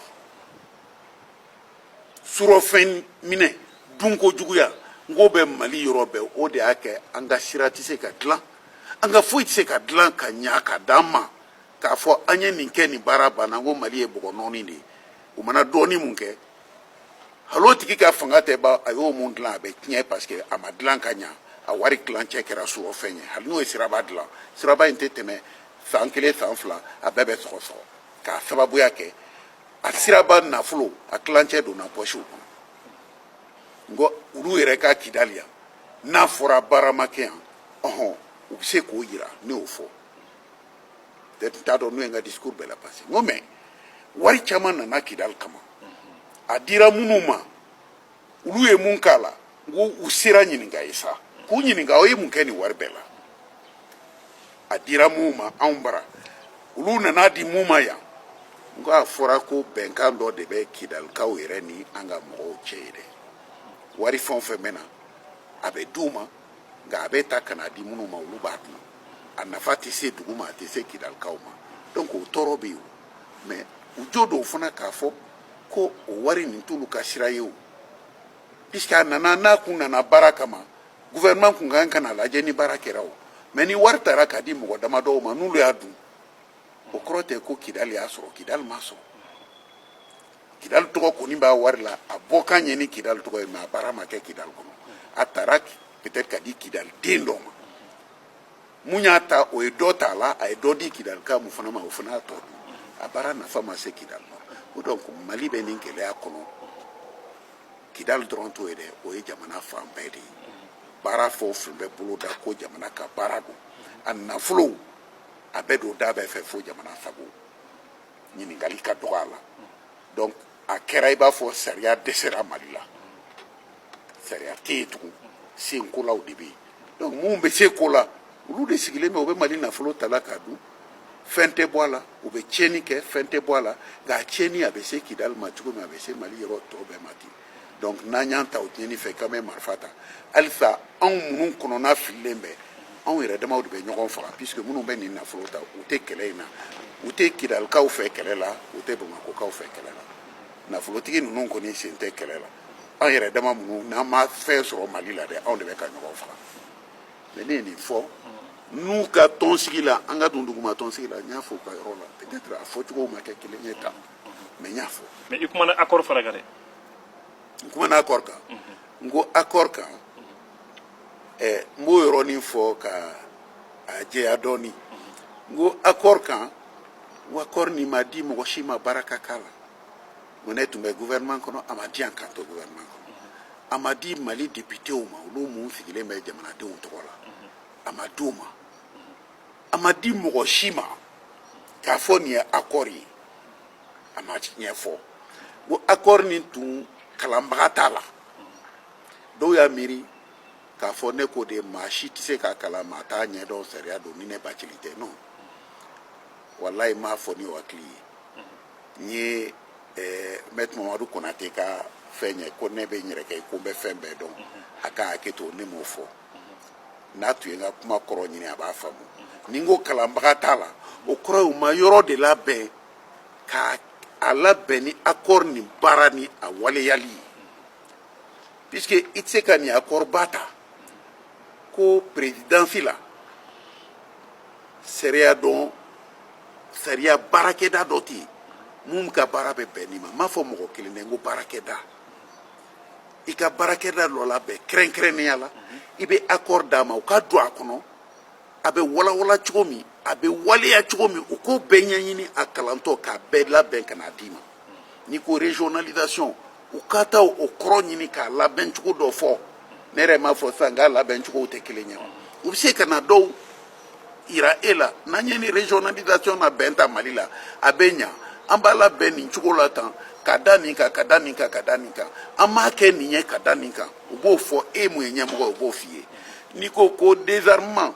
surɔfɛn minɛ dunko juguya n k'o bɛ mali yɔrɔ bɛɛ o de y'a kɛ an ka sira tɛ se ka dilan an ka foyi tɛ se ka dilan ka ɲa ka d'an ma k'a fɔ an ye nin kɛ nin baara banna n ko mali ye bɔgɔ nɔɔni de ye u mana dɔɔni mun kɛ hali o tigi ka fanga tɛ ban a y'o mun dilan a bɛ tiɲɛ parce que a ma dilan ka ɲa a wari tilancɛ kɛra surɔfɛn ye hali n'o ye siraba dilan siraba in tɛ tɛmɛ san kelen san fila a bɛɛ bɛ sɔgɔsɔgɔ k'a sababuya kɛ a siraba nafolo a tilancɛ donna pɔsiw kɔnɔ n ko olu yɛrɛ ka kidali yan n'a fɔra baara ma kɛ yan ɔhɔn u bɛ se k'o yira ne y'o fɔ t'a dɔn n'o ye n ka discours bɛɛ la parce que n ko mais wari caman nana kidali kama a dira minnu ma olu ye mun k'a la n ko u sera ɲininka ye sa k'u ɲininka aw ye mun kɛ nin wari bɛɛ la a dira munw ma anw bara olu nan'a di mun ma yan n ko a fɔra ko bɛnkan dɔ de bɛ kidalikaw yɛrɛ ni an ka mɔgɔw cɛ yen dɛ wari fɛn o fɛn bɛ na a bɛ d'u ma nka a bɛ ta ka na di minnu ma olu b'a dun a nafa tɛ se dugu ma a tɛ se kidalikaw ma donc o tɔɔrɔ bɛ yen mais u jo don fana k'a fɔ ko o wari nin t'olu ka sira ye o puisque a nana n'a kun nana baara kama gouvernement kun kan ka n'a lajɛ ni baara kɛra o mais ni wari tara ka di mɔgɔ damadɔw ma n'olu y'a dun o kɔrɔ tɛ ko kidali y'a sɔrɔ kidali m'a sɔrɔ kidali tɔgɔ kɔni b'a wari la a bɔkan ye ni kidali tɔgɔ ye mais a baara ma kɛ kidali kɔnɔ a taara peut-être ka di kidali den dɔ ma mun y'a ta o ye dɔ ta a la a ye dɔ di kidalika mun fana ma o fana y'a tɔ dun a baara nafa ma se kidali ma o donc mali bɛ nin gɛlɛya kɔnɔ kidali dɔrɔn t'o ye dɛ o ye jamana fan bɛɛ de ye baara fɛn o fɛn bɛ boloda ko jamana ka baara don a nafolow a bɛ don da bɛɛ fɛ fo jamana sago ɲininkali ka dɔgɔ a la donc a kɛra i b'a fɔ sariya dɛsɛra mali la sariya tɛ yen tugun senkolaw de bɛ yen donc minnu bɛ se ko la olu de sigilen bɛ u bɛ mali nafolo tala k'a dun fɛn tɛ bɔ a la u bɛ tiɲɛni kɛ fɛn tɛ bɔ a la nka a tiɲɛni a bɛ se kidali ma cogo min a bɛ se mali yɔrɔ tɔ bɛɛ ma ten donc n'an y'an ta o tiɲɛni fɛ k'an bɛ marifa ta halisa anw minnu kɔnɔna fililen bɛ anw yɛrɛ damaw de bɛ ɲɔgɔn faga puisque minnu bɛ nin nafolo ta u tɛ kɛlɛ in na u tɛ kidalikaw fɛ kɛlɛ la u tɛ bamakokaw fɛ kɛlɛ la nafolotigi ninnu kɔni sen tɛ kɛlɛ la anw yɛrɛ dama minnu n'an ma fɛn sɔrɔ mali la dɛ anw de bɛ ka ɲɔgɔn faga mais ne ye nin fɔ n'u ka tɔnsigi la an ka don duguma tɔnsigi la n y'a fɔ u ka yɔrɔ la peut-être a fɔcogow ma kɛ kelen ye tan mais n y'a fɔ mais i kumana accord fana kan dɛ n kumana accord kan n ko accord kan ɛ n b'o yɔrɔnin fɔ ka a jɛya dɔɔni n ko accord kan n ko accord nin ma di mɔgɔ si ma baara ka k'a la mais ne tun bɛ gouvernement kɔnɔ a ma di yan k'an to gouvernement kɔnɔ a ma di mali députéw ma olu mun sigilen bɛ jamanadenw tɔgɔ la a ma di u ma a ma di mɔgɔ si ma k'a fɔ nin ye accord ye a ma ɲɛfɔ ko accord nin tun kalanbaga t'a la dɔw y'a miiri k'a fɔ ne ko de maa si tɛ se k'a kalan maa t'a ɲɛdɔn sariya don ni ne bacili tɛ non walayi n m'a fɔ n'o hakili ye n ye eh, mɛtiri mamadu konate ka fɛn ye ko ne bɛ n yɛrɛ kɛ ko n bɛ fɛn bɛɛ dɔn a ka hakɛ to ne m'o fɔ n'a tun ye n ka kuma kɔrɔ ɲini a b'a faamu ni n ko kalanbaga t'a la o kɔrɔ ye u ma yɔrɔ de labɛn k'a labɛn ni accord nin baara ni a waleyali ye puisque i tɛ se ka nin accord ba ta ko perezidansi la sariya dɔn sariya baarakɛda dɔ tɛ yen mun ka baara bɛ bɛn nin ma n m'a fɔ mɔgɔ kelen dɛ n ko baarakɛda i ka baarakɛda dɔ labɛn kɛrɛnkɛrɛnnenya la i bɛ accord d'a ma u ka don a kɔnɔ a bɛ walawala cogo min a bɛ waleya cogo min u k'o bɛɛ ɲɛɲini a kalantɔ k'a bɛɛ labɛn ka n'a d'i ma n'i ko régionalisation u ka taa o kɔrɔ ɲini k'a labɛn cogo dɔ fɔ ne yɛrɛ m'a fɔ sisan k'a labɛn cogow tɛ kelen ye u bɛ se ka na dɔw yira e la n'an ye nin régionalisation labɛn ta mali la a bɛ ɲa an b'a labɛn nin cogo la tan ka da nin kan ka da nin kan ka da nin kan an m'a kɛ nin ye ka da nin kan u b'o fɔ e ye mun ye ɲɛmɔgɔ ye u b'o f'i ye n'i ko ko désarmement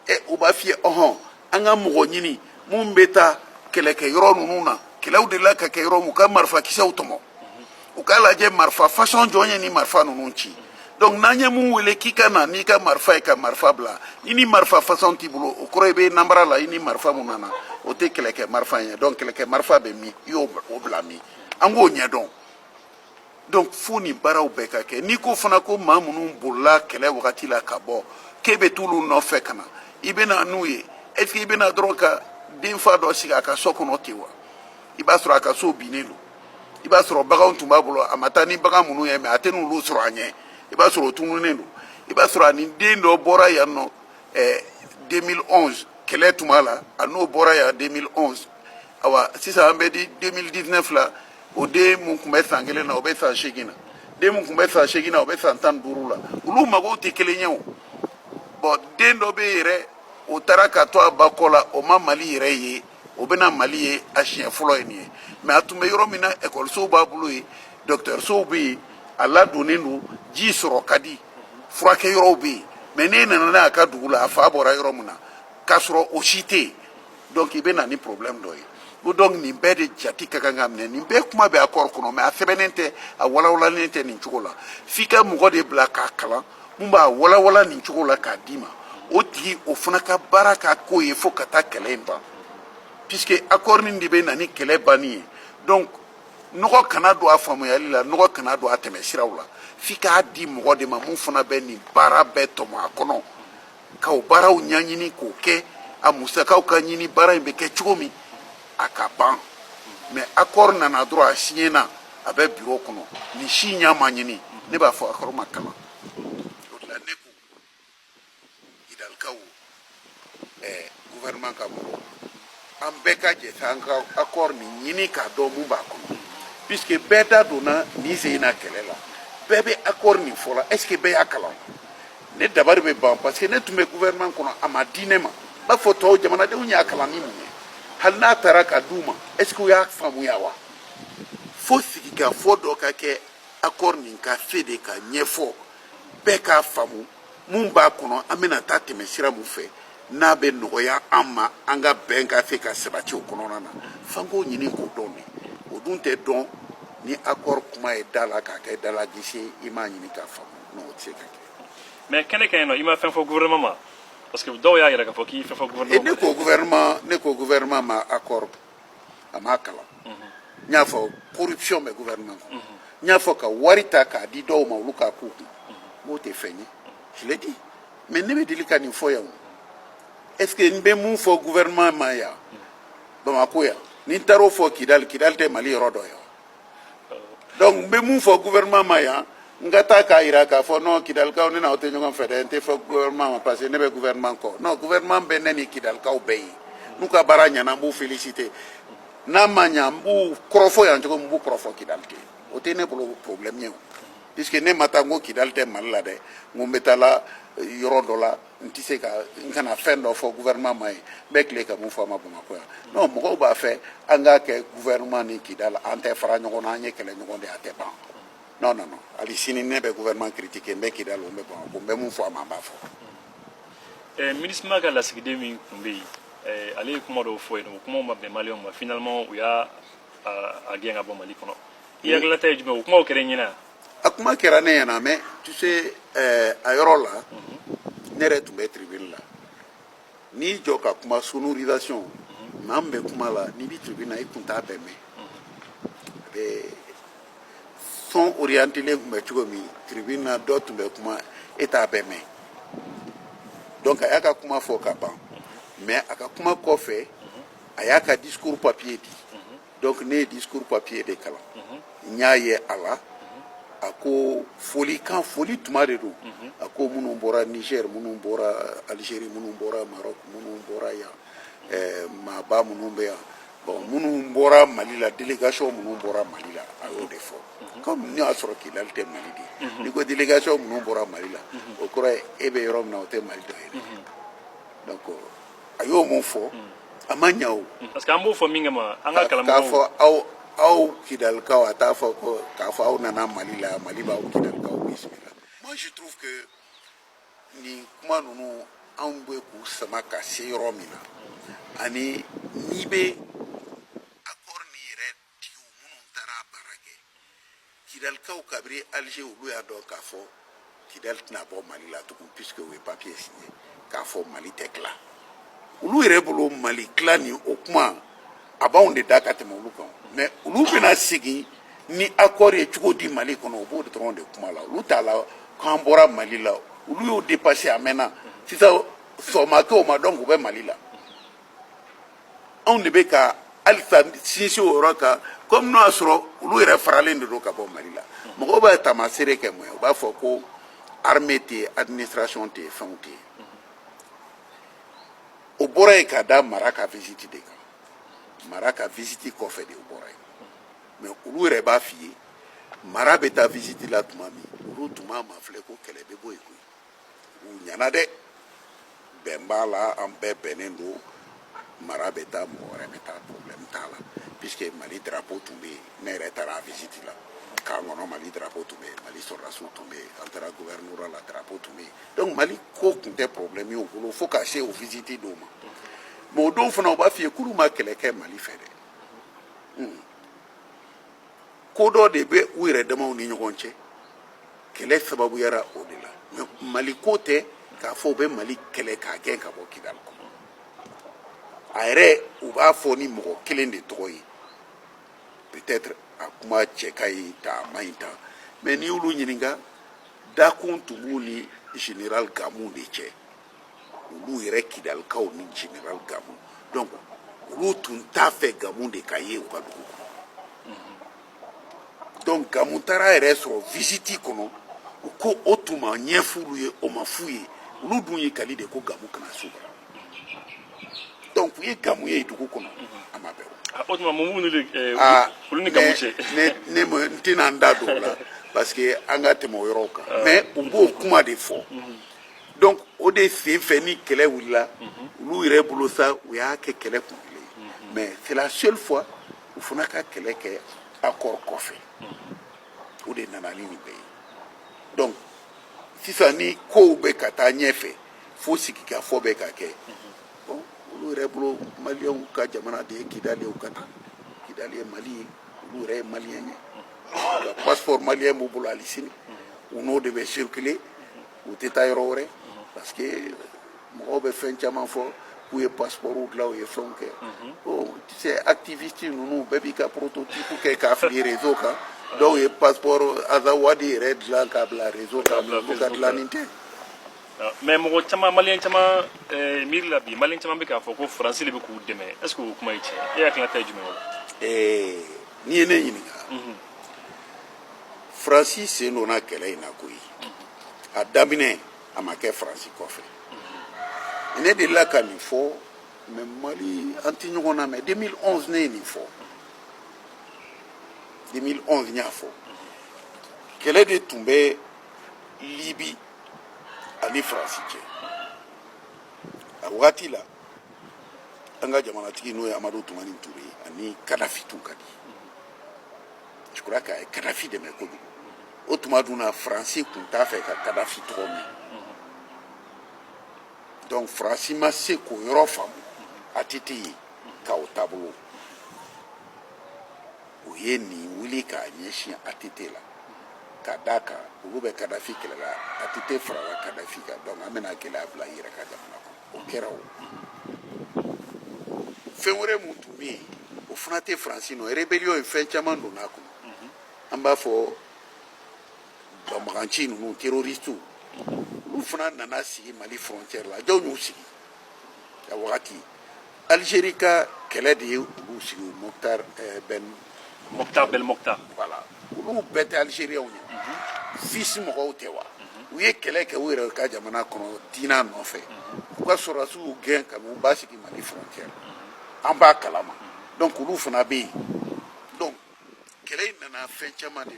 ɛ u b'a f'i ye ɔhɔn an ka mɔgɔ ɲini mun bɛ taa kɛlɛkɛ yɔrɔ ninnu na kɛlɛw delila ka kɛ yɔrɔ mun u ka marifakisɛw tɔmɔ u k'a lajɛ marifa fasɔn jɔn ye nin marifa ninnu ci donc n'an ye mun wele k'i ka na n'i ka marifa ye ka marifa bila i ni marifa fasɔn t'i bolo o kɔrɔ i bɛ nanbara la i ni marifa mun nana o tɛ kɛlɛkɛ marifa ye donc kɛlɛkɛ marifa bɛ min i y'o bila min an k'o ɲɛdɔn donc fo nin baaraw bɛɛ ka kɛ n'i ko fana ko maa minnu bolila kɛlɛ wagati la ka bɔ k'e bɛ t'olu nɔfɛ ka na i bɛ na n'u ye est ce que i bɛ na dɔrɔn ka denfa dɔ sigi a ka so kɔnɔ ten wa i b'a sɔrɔ a ka so binnen don i b'a sɔrɔ baganw tun b'a bolo a ma taa ni bagan minnu ye mɛ a tɛ n'olu sɔrɔ a ɲɛ i b'a sɔrɔ o tununen don i b'a sɔrɔ ani den dɔ bɔra yan nɔ ɛɛ 2011 kɛlɛ tuma la a n'o bɔra yan 2011 awa sisan an bɛ di 2019 la o den mun tun bɛ san kelen na o bɛ san seegin na den mun tun bɛ san seegin na o bɛ san tan duuru la olu magow tɛ kelen ye bon den dɔ bɛ yen yɛrɛ o taara ka to a ba kɔ la o ma mali yɛrɛ ye o bɛna mali ye a siɲɛ fɔlɔ ye nin ye mɛ a tun bɛ yɔrɔ min na ekɔlisow b'a bolo yen dɔkitɛrisow bɛ yen a ladonnen don ji sɔrɔ ka di furakɛ yɔrɔw bɛ yen mɛ n'e nana n'a ka dugu la a fa bɔra yɔrɔ min na k'a sɔrɔ o si tɛ yen donc i bɛ na ni problème dɔ ye ko donc nin bɛɛ de jati ka kan ka minɛ nin bɛɛ kuma bɛ accord kɔnɔ mɛ a sɛbɛnnen tɛ a walawalalen tɛ nin cogo la f'i ka mɔgɔ de bila k'a kalan mun b'a walawala nin cogo la k'a d'i ma o tigi o fana ka baara ka k'o ye fo ka taa kɛlɛ in ban puisque accord nin de bɛ na ni kɛlɛ banni ye donc nɔgɔ kana don a faamuyali la nɔgɔ kana don a tɛmɛ siraw la f'i k'a di mɔgɔ de ma mun fana bɛ nin baara bɛɛ tɔmɔ a kɔnɔ ka o baaraw ɲɛɲini k'o kɛ a musakaw ka ɲini baara in bɛ kɛ cogo min a ka ban mais accord nana dɔrɔn a siɲɛna a bɛ biro kɔnɔ nin si ɲa ma ɲini ne b'a fɔ accord ma kalan o de la ne ko kidalikaw ɛɛ gouvernement ka mɔgɔ an bɛɛ ka jɛ k'an ka accord nin ɲini k'a dɔn mun b'a kɔnɔ puisque bɛɛ da donna nin sen na kɛlɛ la bɛɛ bɛ accord nin fɔla est ce que bɛɛ y'a kalan ne dabari bɛ ban parce que ne tun bɛ gouvernement kɔnɔ a ma di ne ma n b'a fɔ tɔw jamanadenw y'a kalan ni mun ye hali n'a taara ka d'u ma est ce que u y'a faamuya wa fo sigikafɔ dɔ ka kɛ accord nin ka se de ka ɲɛfɔ bɛɛ k'a faamu mun b'a kɔnɔ an bɛna taa tɛmɛ sira mun fɛ n'a bɛ nɔgɔya an ma an ka bɛn ka se ka sabati o kɔnɔna na f'an k'o ɲini k'o dɔn dɛ o dun tɛ dɔn ni accord kuma ye da la k'a kɛ dalagisi i m'a ɲini k'a faamu non o tɛ se ka kɛ mais kɛnɛ kan yen non i ma fɛn fɔ gouvernement ma parce que dɔw y'a yira k'a fɔ k'i fɛn fɔ gouvernement ne ko gouvernement ne ko gouvernement ma accord a m'a kalan n y'a fɔ corruption bɛ gouvernement kɔnɔ n y'a fɔ ka wari ta k'a di dɔw ma olu k'a k'u kun o tɛ fɛn ɲɛ je l'ai dit mais ne bɛ deli ka nin fɔ yan est ce que n bɛ mun fɔ gouvernement ma yan bamakɔ yan ni n taar'o fɔ kidali kidali tɛ mali yɔrɔ dɔ ye wa donc n bɛ mun fɔ gouvernement ma yan n ka taa k'a jira k'a fɔ non kidalikaw ne n'aw tɛ ɲɔgɔn fɛ dɛ n tɛ fɔ gouvernement ma parce que ne bɛ gouvernement kɔ non gouvernement bɛ ne ni kidalikaw bɛɛ ye n'u ka baara ɲɛna n b'u féliciter n'a ma ɲa n b'u kɔrɔfɔ yan cogo min n b'u kɔrɔfɔ kidali ten o tɛ ne bolo problème ye o puisque ne ma taa n ko kidali tɛ mali la dɛ n ko n bɛ taa la yɔrɔ dɔ la n tɛ se ka n kana fɛn dɔ fɔ gouvernement ma yen n bɛ tila ka mun fɔ a ma bamakɔ yan non mɔgɔw b'a fɛ an k'a kɛ gouvernement ni kidali an tɛ fara ɲɔgɔn na an ye kɛlɛ ɲɔgɔn de a tɛ ban non non non hali sini ne bɛ gouvernement critiquer n bɛ kidali n bɛ bamakɔ n bɛ mun fɔ a ma n b'a fɔ. Eh, minusma ka lasigiden min tun bɛ yen eh, ale ye kuma dɔw fɔ yen o kumaw ma bɛn maliyɛnw ma finalement u y'a gɛn ka bɔ mali kɔnɔ i hakilila ta ye jumɛn o kumaw kɛra i ɲɛna wa a kuma kɛra ne ɲɛna mais tu sais eh, a yɔrɔ la ne yɛrɛ tun bɛ tribune la n'i jɔ ka kuma sonorisation maa min bɛ kuma la n'i bɛ tribune na i tun t'a bɛɛ mɛn a bɛ son orientelen tun bɛ cogo min tribune na dɔ tun bɛ kuma e t'a bɛɛ mɛn donc a y'a ka kuma fɔ ka ban mais a ka kuma kɔfɛ a y'a ka discours papier di donc ne ye discours papier de kalan n y'a ye a la a ko folikan foli tuma de don a ko minnu bɔra niger minnu bɔra algérie minnu bɔra maroc minnu bɔra yan eh, maaba minnu bɛ yan bon minnu bɔra mali la délégation minnu bɔra mali la a y'o de fɔ comme n'i y'a sɔrɔ kidali tɛ mali de ye n'i ko délégation minnu bɔra mali la o kɔrɔ ye e bɛ yɔrɔ min na o tɛ mali dɔ ye dɛ donc a y'o min fɔ a ma ɲa o parce que an b'o fɔ min kama an ka kalan k'a fɔ aw aw kidalikaw a t'a fɔ ko k'a fɔ aw nana mali la mali b'aw kidalikaw bisimila moi je trouve que nin kuma ninnu anw bɛ k'u sama ka se yɔrɔ min na ani n'i bɛ accord nin yɛrɛ Kidalikaw kabiri alger olu y'a dɔn k'a fɔ kidali tɛna bɔ mali la tugun puisque u ye papiye siɲe k'a fɔ mali tɛ tila olu yɛrɛ bolo mali tila ni o kuma a b'anw de da ka tɛmɛ olu kan mɛ olu bɛna segin ni akɔri ye cogo di mali kɔnɔ u b'o dɔrɔn de kuma la olu t'a la k'an bɔra mali la olu y'o depase a mɛnna sisan sɔgɔma t'o ma donc u bɛ mali la anw de bɛ ka halisa sinsin o yɔrɔ kan komi n'o y'a sɔrɔ olu yɛrɛ faralen de don ka bɔ mali la mɔgɔw b'a taamaseere kɛ mun ye u b'a fɔ ko arme tɛ yen administration tɛ yen fɛnw tɛ yen o bɔra yen ka da mara ka visite de kan mara ka visite kɔfɛ de o bɔra yen mais olu yɛrɛ b'a f'i ye mara bɛ taa visite la tuma min olu tun m'a mafilɛ ko kɛlɛ bɛ bɔ yen koyi u ɲa na dɛ bɛn b'a la an bɛɛ bɛnnen don mara bɛ taa mɔgɔ wɛrɛ bɛ taa problème t'a la puisque mali drapeau tun bɛ yen ne yɛrɛ taara visite la camp kɔnɔ mali drapeau tun bɛ yen mali sɔrɔdasiw tun bɛ yen an taara gouvernorat la drapeau tun bɛ yen donc mali ko tun tɛ problème ye u bolo fo ka se o visite don ma mais o don fana u b'a f'i ye k'olu ma kɛlɛ kɛ mali fɛ dɛ ko dɔ de bɛ u yɛrɛ damaw ni ɲɔgɔn cɛ kɛlɛ sababuyara o de la mɛ mali ko tɛ k'a fɔ u bɛ mali kɛlɛ k'a gɛn ka bɔ kidali kɔnɔ a yɛrɛ u b'a fɔ ni mɔgɔ kelen de tɔgɔ ye peut-être a kuma cɛ ka ɲi ta a man ɲi ta mɛ n'i y'olu ɲininka dakun tun b'u ni general gamu de cɛ olu yɛrɛ kidalikaw ni general gamu donc olu tun t'a fɛ gamu de ka ye u ka dugu kɔnɔ donc gamu taara yɛrɛ sɔrɔ visiti kɔnɔ u ko o tun ma ɲɛf'olu ye o ma f'u ye olu dun y'u kali de ko gamu kana s'u bara donc u ye gamu ye dugu kɔnɔ a ma bɛn ah, o tuma mun de eh, ah, olu ni gamu cɛ ne n tɛna n da don o la parce que an ka tɛmɛ o yɔrɔw kan ah. mais u b'o kuma de fɔ donc o de sen fɛ nin kɛlɛ wulila olu yɛrɛ bolo sa u y'a kɛ kɛlɛ kun kelen ye mais c'est la seule fois u fana ka kɛlɛ kɛ accord kɔfɛ o de nana ni nin bɛɛ ye donc sisan ni kow bɛ ka taa ɲɛfɛ fo sigikafɔ bɛ ka kɛ bon olu yɛrɛ bolo maliyɛnw ka jamana de ye kidali ye u ka taa kidali ye mali ye olu yɛrɛ ye maliyɛn ye passeport maliyɛn b'u bolo hali sini u n'o de bɛ circuler u tɛ taa yɔrɔ wɛrɛ parce que mɔgɔw bɛ fɛn caman fɔ k'u ye passeport dilan u ye fɛnw kɛ bon tu sais activiste ninnu bɛɛ b'i ka prototype kɛ k'a fili réseau kan dɔw ye passeport azawadi yɛrɛ dilan k'a bila réseau kan u ka dilanni tɛ mais mɔgɔ caman maliyɛn caman eh, miiri la bi maliyɛn caman bɛ k'a fɔ ko faransi de bɛ k'u dɛmɛ est ce que o kuma ye tiɲɛ e hakilinata ye jumɛn ye o la n'i ye ne ɲininka faransi sen donna kɛlɛ in na koyi a daminɛ a ma kɛ faransi kɔfɛ ne delila ka nin fɔ mais mali an tɛ ɲɔgɔn lamɛn 2011 ne ye nin fɔ 2011 n y'a fɔ kɛlɛ de tun bɛ libi ani faransi cɛ a wagati la an ka jamanatigi n'o ye amadu tumani ture ye ani kadafi tun ka di je crois que a ye kadafi dɛmɛ kojugu o tuma dun na faransi tun t'a fɛ ka kadafi tɔgɔ mɛn donc faransi ma se k'o yɔrɔ faamu ATT ye ka o taabolo u ye nin wuli k'a ɲɛsin ATT la ka d'a kan olu bɛ kadafi kɛlɛ la ATT farala kadafi kan donc an bɛna gɛlɛya bila i yɛrɛ ka jamana kɔnɔ o kɛra o fɛn wɛrɛ mun tun bɛ yen o fana tɛ faransi nɔ rébellion ye fɛn caman donna a kɔnɔ an b'a fɔ banbaganci ninnu terroristiw olu fana nana sigi mali frontière la jɔn y'u sigi a wagati Alizeri ka kɛlɛ de ye olu sigi mukutari bɛn bɛn mukutari wala olu bɛɛ tɛ alizeriyɛnw ye fisi mɔgɔw tɛ wa u ye kɛlɛ kɛ u yɛrɛ ka jamana kɔnɔ diinɛ nɔfɛ u ka sɔrɔsiw y'u gɛn ka n'u basigi mali frontière an b'a kalama donc olu fana bɛ yen donc kɛlɛ in nana fɛn caman de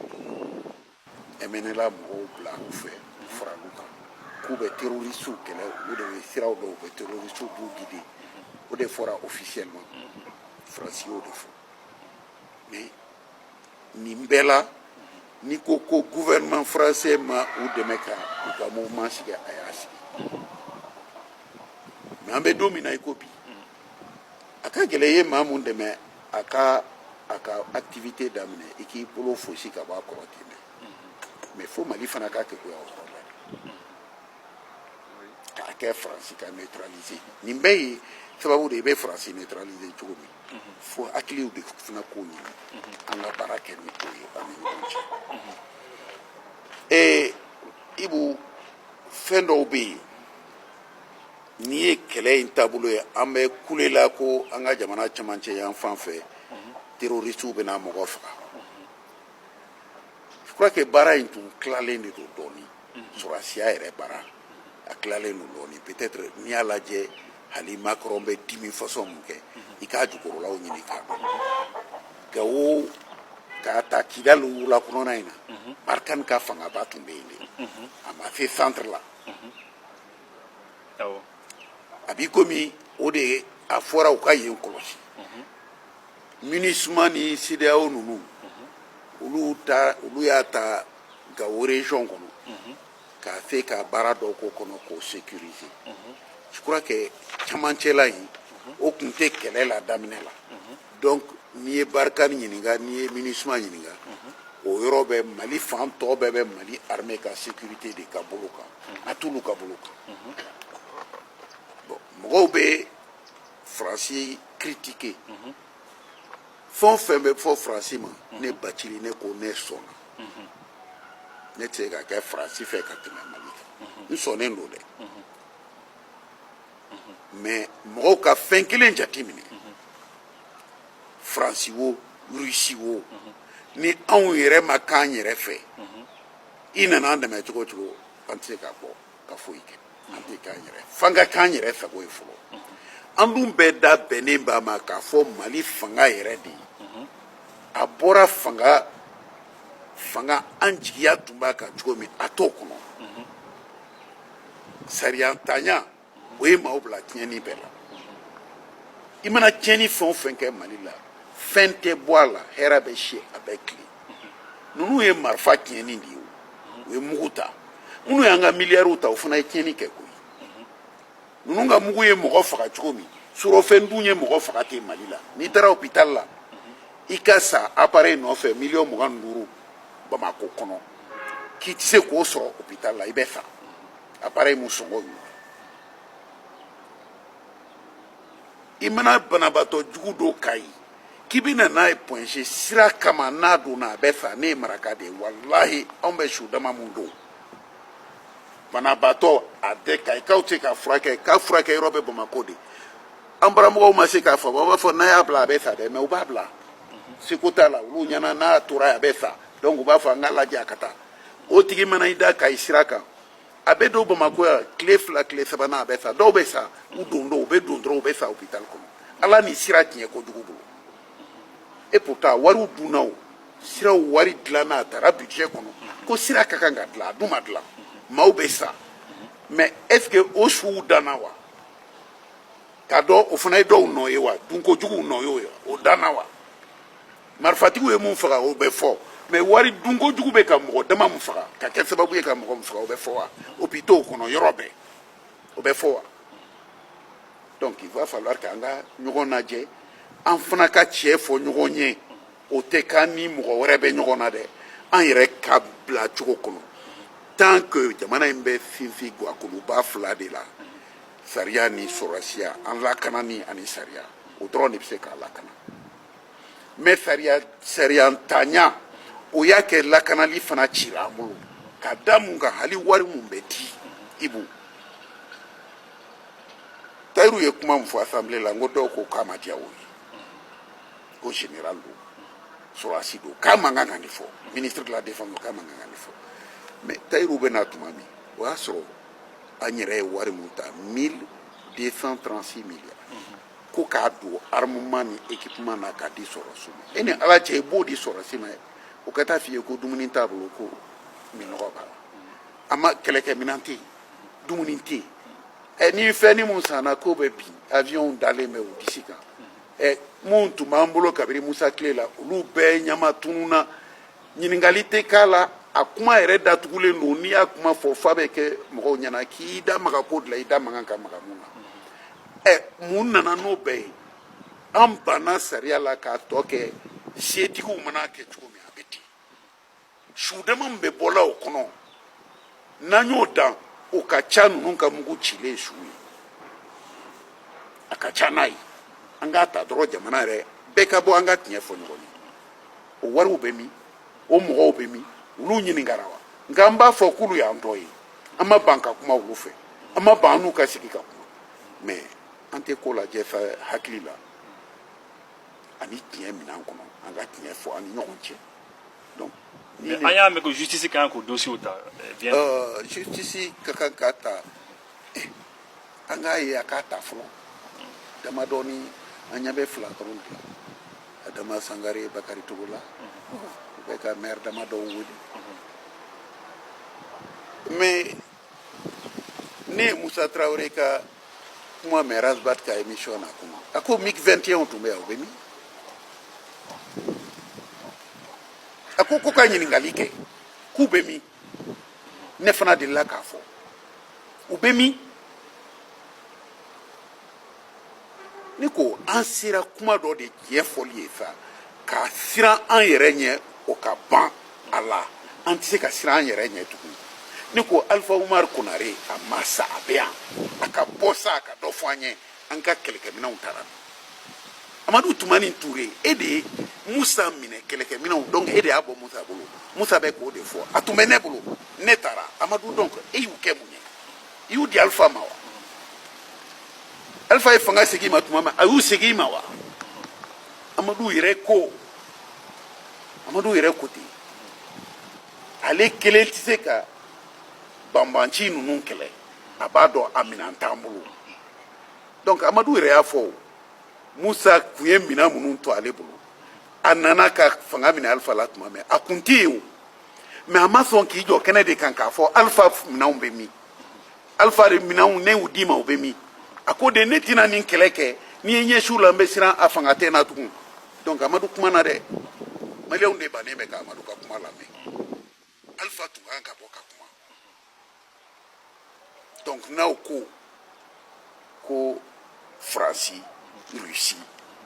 MNLA mɔgɔw bila u fɛ u faral'u kan k'u bɛ terroristiw kɛlɛ olu de bɛ siraw dɔn u bɛ terroristiw b'u guider o de fɔra officiellement faransi y'o de fɔ nin bɛɛ la n'i ko ko gouvernement français ma u dɛmɛ ka u ka mouvement sigi a y'a sigi nka an bɛ don min na i ko bi a ka gɛlɛn i ye maa min dɛmɛ a ka a ka activité daminɛ i k'i bolo fosi ka bɔ a kɔrɔ ten dɛ mais fo mali fana ka keguya o kɔrɔ la k'a kɛ faransi ka neutraliser nin bɛɛ ye sababu de i bɛ faransi neutraliser cogo min fo hakiliw de fana k'o ɲini an ka baara kɛ ni o ye an ni ɲɔgɔn cɛ ee ibu fɛn dɔw bɛ yen N'i ye kɛlɛ in taabolo ye an bɛ kulela ko an ka jamana camancɛ yan fan fɛ terroristew bɛna mɔgɔ faga je crois que baara in tun tilalen de don dɔɔnin sɔrɔdasiya yɛrɛ baara a tilalen don dɔɔnin peut être n'i y'a lajɛ hali Macron bɛ dimi façon min kɛ i k'a jukɔrɔlaw ɲini k'a dɔn Gawo ka taa Kidali wula kɔnɔna in na Barkhane ka fangaba tun bɛ yen de a ma se centre la a b'i komi o de ye a fɔra u ka yen kɔlɔsi minusima ni CEDEAO ninnu olu ta olu y'a ta gawo région kɔnɔ ka se ka baara dɔ k'o kɔnɔ k'o sécuriser je crois que camancɛla in o tun tɛ kɛlɛ la daminɛ la donc n'i ye barikani ɲininka n'i ye minusima ɲininka o yɔrɔ bɛ mali fan tɔ bɛɛ bɛ mali armée ka sécurité de ka bolo kan a t'olu ka bolo kan bon mɔgɔw bɛ faransi critiquer fɛn o fɛn bɛ fɔ faransi ma ne bacili ne ko ne sɔnna ne tɛ se ka kɛ faransi fɛ ka tɛmɛ mali kan n sɔnnen don dɛ mais mɔgɔw ka fɛn kelen jateminɛ faransi wo rusi wo ni anw yɛrɛ ma k'an yɛrɛ fɛ i nana an dɛmɛ cogo cogo an tɛ se k'a bɔ ka foyi kɛ an tɛ k'an yɛrɛ fɛ an ka k'an yɛrɛ fɛ ko ye fɔlɔ an dun bɛɛ da bɛnnen b'a ma k'a fɔ mali fanga yɛrɛ de ye a bɔra fanga fanga an jigiya tun b'a kan cogo min a t'o kɔnɔ sariyantanya o ye maaw bila tiɲɛni bɛɛ la i mana tiɲɛni fɛn o fɛn kɛ mali la fɛn tɛ bɔ a la hɛrɛ bɛ si a bɛ tile ninnu ye marifa tiɲɛni de ye u ye mugu ta minnu y'an ka miliyariw ta u fana ye tiɲɛni kɛ koyi ninnu ka mugu ye mɔgɔ faga cogo min surɔfɛn dun ye mɔgɔ faga ten mali la n'i taara hôpital la i ka sa appareil nɔfɛ miliyɔn mugan ni duuru bamako kɔnɔ k'i tɛ se k'o sɔrɔ hôpital la i bɛ sa appareil min sɔngɔ y'u i mana banabaatɔ jugu dɔ Kayi k'i bɛ na n'a ye Point G sira kama n'a donna a bɛ sa ne ye maraka de ye walahi anw bɛ su dama min don banabaatɔ a bɛ kayikaw tɛ se k'a furakɛ k'a furakɛ yɔrɔ bɛ bamakɔ de an baramɔgɔw ma se k'a faamu a b'a fɔ n'a y'a bila a bɛ sa dɛ mɛ u b'a bila seko t'a la olu ɲɛna n'a tora a bɛ sa donc u b'a fɔ an k'a lajɛ a ka taa o tigi mana i da kayi sira kan a bɛ don bamakɔ yan tile fila tile sabanan a bɛ sa dɔw bɛ sa u don don u bɛ don dɔrɔn u bɛ sa hôpital kɔnɔ ala ni sira tiɲɛ kojugu bolo et pourtant wariw dunna o siraw wari dilanna a tara budget kɔnɔ ko sira ka kan ka dilan a dun ma dilan maaw bɛ sa mais est ce que o suw danna wa k'a dɔn o fana ye dɔw nɔ ye wa dunko juguw nɔ y'o ye o danna wa marifatigiw ye mun faga o bɛ fɔ mais wari dunko jugu bɛ ka mɔgɔ dama mun faga ka kɛ sababu ye ka mɔgɔ mun faga o bɛ fɔ wa hopitaux kɔnɔ yɔrɔ bɛɛ o bɛ fɔ wa donc il va falloir k'an ka ɲɔgɔn lajɛ an fana ka tiɲɛ fɔ ɲɔgɔn ye o tɛ k'an ni mɔgɔ wɛrɛ bɛ ɲɔgɔn na dɛ an yɛrɛ ka bila cogo kɔnɔ tant que jamana in bɛ sinsin gwakuluba fila de la sariya ni sɔrɔdasiya an lakanani ani sariya o dɔrɔn de bɛ se k'an lakana mɛ sariya sariyantanya o y'a kɛ lakanali fana cira an bolo ka da mun kan hali wari mun bɛ di ibu tayiru ye kuma min fɔ asanbile la n ko dɔw ko k'a ma diya o ye ko général don sɔrɔdasi don k'a man kan ka nin fɔ ministre de la défense don k'a man kan ka nin fɔ mais tayiru bɛ na tuma min o y'a sɔrɔ an yɛrɛ ye wari min ta mille deux cent trente six milliards ko k'a don armement ni équipement na k'a di sɔrɔdasi ma e ni ala cɛ i b'o di sɔrɔdasi ma o ka taa f'i ye ko dumuni t'a bolo ko minnɔgɔ b'a la a ma kɛlɛkɛminɛn tɛ yen dumuni tɛ yen ɛ ni fɛn ni mun sanna k'o bɛ bin avion dalen bɛ u disi kan ɛ minnu tun b'an bolo kabiri musa tile la olu bɛɛ ɲama tununna ɲininkali tɛ k'a la a kuma yɛrɛ datugulen don n'i y'a kuma fɔ f'a bɛ kɛ mɔgɔw ɲɛna k'i da maga ko de la i da man kan ka maga mun na ɛ mun nana n'o bɛɛ ye an banna sariya la k'a tɔ kɛ setigiw man'a kɛ cogo su dama min bɛ bɔla o kɔnɔ n'an y'o dan o ka ca ninnu ka mugu cilen su ye a ka ca n'a ye an k'a ta dɔrɔn jamana yɛrɛ bɛɛ ka bɔ an ka tiɲɛ fɔ ɲɔgɔn ye o wariw bɛ min o mɔgɔw bɛ min olu ɲininkara wa nka an b'a fɔ k'olu y'an tɔ ye an ma ban ka kuma olu fɛ an ma ban an n'u ka sigi ka kuma mɛ an tɛ ko lajɛ hakili la ani tiɲɛ minɛn kɔnɔ an ka tiɲɛ fɔ an ni ɲɔgɔn cɛ donc ni an y'a mɛn ko justice ka kan k'o dossiers ta eh, bien euh, justice ka kan k'a ta eh, an k'a ye a k'a ta fɔlɔ damadɔni an ɲɛ bɛ fila dɔrɔn de la adama sangare bakari togola mhm. u bɛ ka maire damadɔw wele mhm. mais ne ye musa tarawele ka kuma mɛn ras bath ka émission na kuma a ko mig 21w tun bɛ yan u bɛ min a ko k'u ka ɲininkali kɛ k'u bɛ min ne fana delila k'a fɔ u bɛ min ne ko an sera kuma dɔ de tiɲɛ fɔli ye sa ka siran an yɛrɛ ɲɛ o ka ban a la an tɛ se ka siran an yɛrɛ ɲɛ tugun ne ko alifa umar konare a ma sa a bɛ yan a ka bɔ sa a ka dɔ fɔ an ye an ka kɛlɛkɛminɛnw taara amadu tumani ture e de ye musa minɛ kɛlɛkɛminɛnw donc e de y'a bɔ musa bolo musa bɛ k'o de fɔ a tun bɛ ne bolo ne taara amadu donc e y'u kɛ mun ye i y'u di alifa ma wa alifa ye fanga segin i ma tuma min a y'u segin i ma wa amadu yɛrɛ ko amadu yɛrɛ ko ten ale kelen tɛ se ka banbanci ninnu kɛlɛ a b'a dɔn a minɛn t'an bolo donc amadu yɛrɛ y'a fɔ musa kun ye minɛn minnu to ale bolo a nana ka fanga minɛ alifa la tuma min a kun tɛ yen o mais a ma sɔn k'i jɔ kɛnɛ de kan k'a fɔ alifa minɛnw bɛ min alifa de minɛnw ne y'u d'i ma u bɛ min a ko de ne tɛna nin kɛlɛ kɛ n'i ye ɲɛsiw la n bɛ siran a fanga tɛ n na tugun donc amadu kumana dɛ maliyɛnw de bannen bɛ ka amadu ka kuma lamɛn alifa tun kan ka bɔ ka kuma donc n'aw ko ko faransi russie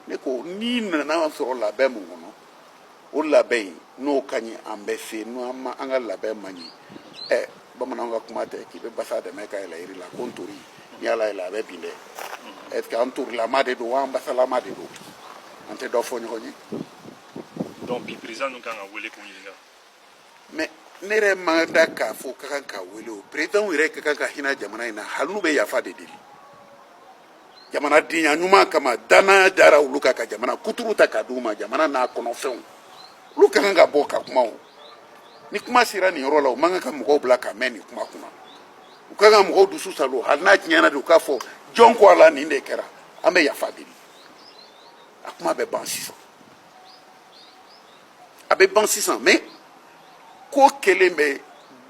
ne ko n'i nana sɔrɔ labɛn mun kɔnɔ o labɛn in n'o ka ɲi an bɛ se n'an ma an ka labɛn man ɲi ɛ bamananw ka kuma tɛ k'i bɛ basa dɛmɛ ka yɛlɛ yiri la ko ntori n'i y'a layɛlɛ a bɛ bin dɛ est ce que an torilama de don wa an basalama de don an tɛ dɔ fɔ ɲɔgɔn ye donc bi président ninnu kan ka wele k'u ɲininka mais ne yɛrɛ ma da k'a fɔ ka kan k'a wele o perezidanw yɛrɛ ka kan ka hinɛ jamana in na hali n'u bɛ yafa de deli jamanadenya ɲuman kama dannaya dara olu kan ka jamana kuturu ta ka d'u ma jamana n'a kɔnɔfɛnw olu ka kan ka bɔ ka kuma o ni kuma sera nin yɔrɔ la u man kan ka mɔgɔw bila ka mɛn nin kuma kunna u ka kan ka mɔgɔw dusu saalo hali n'a tiɲɛna de u k'a fɔ jɔn ko ala nin de kɛra an bɛ yafa deli a kuma bɛ ban sisan a bɛ ban sisan mɛ ko kelen bɛ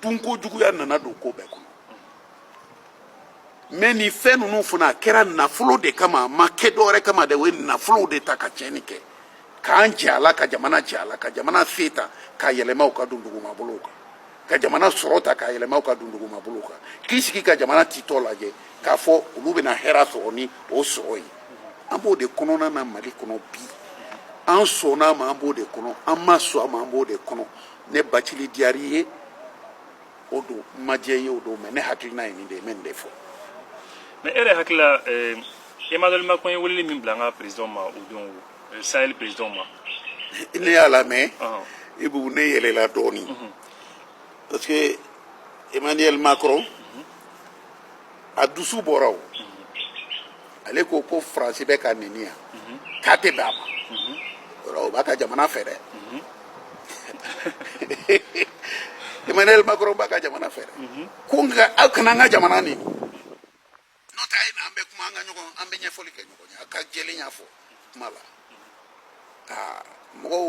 dunko juguya nana don ko bɛɛ kɔnɔ mɛ nin fɛn ninnu fana a kɛra nafolo de kama a ma kɛ dɔwɛrɛ kama dɛ o ye nafolow de ta ka tiɲɛni kɛ k'an jɛ a la ka jamana jɛ a la ka jamana se ta k'a yɛlɛma u ka dundugumabolow kan ka jamana sɔrɔ ta k'a yɛlɛma u ka dunduguma bolo kan k'i sigi ka jamana titɔ lajɛ k'a fɔ olu bɛna hɛra sɔrɔ ni o sɔrɔ ye an b'o de kɔnɔna na mali kɔnɔ bi an sɔnna a ma an b'o de kɔnɔ an ma sɔn a ma an b'o de kɔnɔ ne bacili diyar'i ye o don n ma diy'i ye o don mɛ ne hakilina ye nin de ye n bɛ nin de fɔ mɛ e yɛrɛ hakilila emmanuel macron ye weleli min bila an ka président ma o don euh, Sahel président ma. ne y'a lamɛn Ɔhɔn. Ibu ne yɛlɛla dɔɔnin parce que emmanuel macron a dusu bɔra o ale ko ko faransi bɛ ka neni yan k'a tɛ bɛn a ma yɔrɔ o b'a ka jamana fɛ dɛ emmanuel macron b'a ka jamana fɛ dɛ ko nka aw kana an ka jamana neni n'o tɛ a ye na an bɛ kuma an ka ɲɔgɔn an bɛ ɲɛfɔli kɛ ɲɔgɔn ye a ka jɛlenya fɔ kuma la aa mɔgɔw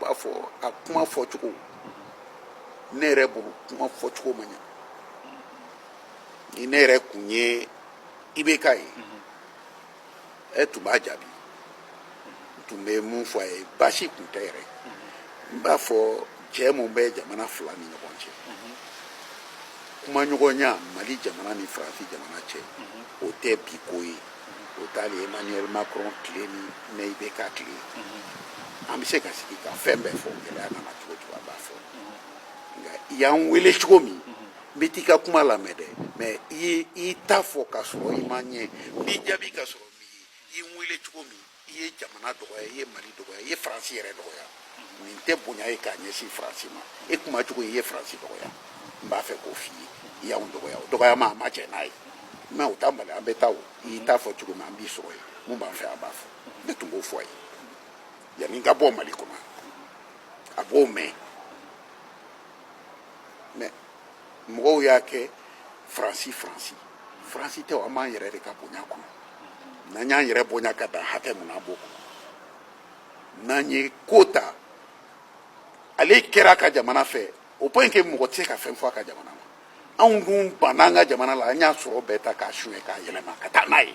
b'a fɔ a kuma fɔcogo ne yɛrɛ bolo kuma fɔcogo ma ɲɛ ni ne yɛrɛ kun ye IBK ye e tun b'a jaabi n tun bɛ mun fɔ a ye baasi tun tɛ yɛrɛ n b'a fɔ jɛ min bɛ jamana fila ni ɲɔgɔn cɛ kumaɲɔgɔnya mali jamana ni faransi jamana cɛ o tɛ bi ko ye o t'ale emmanuel macron tile ni ne IBK tile an bɛ se ka sigi ka fɛn bɛɛ fɔ gɛlɛya nana cogo o cogo an b'a fɔ nka i y'an wele cogo min bɛ t'i ka kuma lamɛn dɛ mɛ i ye i ta fɔ ka sɔrɔ i ma n ye n b'i jaabi ka sɔrɔ n m'i ye i ye n wele cogo min i ye jamana dɔgɔya i ye mali dɔgɔya i ye faransi yɛrɛ dɔgɔya nin tɛ bonya ye k'a ɲɛsin faransi ma e kuma cogo i ye faransi dɔgɔya n b'a fɛ k'o f'i ye i y'anw dɔgɔya o dɔgɔya ma an ma jɛn n'a ye mɛ o t'a bali an bɛ taa o i y'i ta fɔ cogo min an b'i sɔrɔ yen min b'an fɛ an b'a fɔ ne tun b'o fɔ a ye yanni n ka bɔ mali kɔnɔ a b'o mɛn mɛ mɔgɔw y'a kɛ faransi faransi faransi tɛ an b'an yɛrɛ de ka bonya kɔnɔ n'an y'an yɛrɛ bonya ka dan hakɛ min na an b'o kɔnɔ n'an ye ko ta ale kɛra a ka jamana fɛ au point que mɔgɔ tɛ se ka fɛn fɔ a ka jamana ma anw dun banna an ka jamana la an y'a sɔrɔ bɛɛ ta k'a suɲɛ k'a yɛlɛma ka taa n'a ye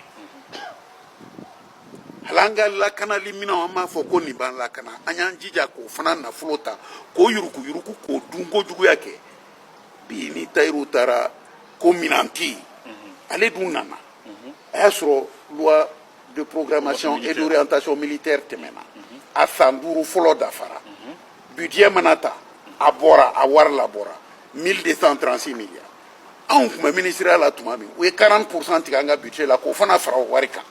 hal'an ka lakanali minɛnw an b'a fɔ ko nin b'an lakana an y'an jija k'o fana nafolo ta k'o yuruguyurugu k'o dun kojuguya kɛ militairew taara ko minan tɛ yen ale dun nana a y'a sɔrɔ loi de programmation et d'orientation militaire tɛmɛna a san duuru fɔlɔ dafara budget mana ta a bɔra a wari labɔra 1236 milliards anw tun bɛ minisiriya la tuma min u ye 40 pourcent tigɛ an ka budget la k'o fana fara o wari kan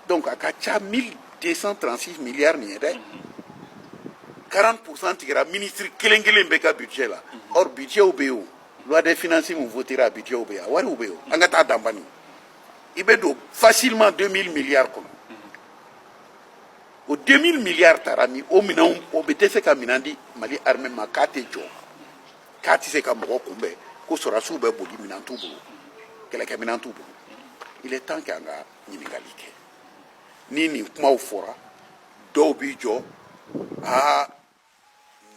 dɔnku a ka ca mi desan transi miliyari min ye dɛ karan kurusan tigɛra minisiriri kelen kelen bɛ ka bijɛ la ɔ bijɛw bɛ yen lade fsi min fɔtira a bijɛw bɛ yen a wariw bɛ yen an ka taa danban i bɛ don fasirima don mi miliyari kɔnɔ o den mi miliyari taara min o minɛn o bɛ dɛsɛ se ka minɛn di mali hamɛ ma k'a tɛ jɔ k'a tɛ se ka mɔgɔ kunbɛn ko sɔrɔdasiw bɛ boli minɛn t'u bolo kɛlɛkɛminɛn t'u bolo il est temps k'an ka ɲininkali kɛ ni nin kumaw fɔra dɔw b'i jɔ aa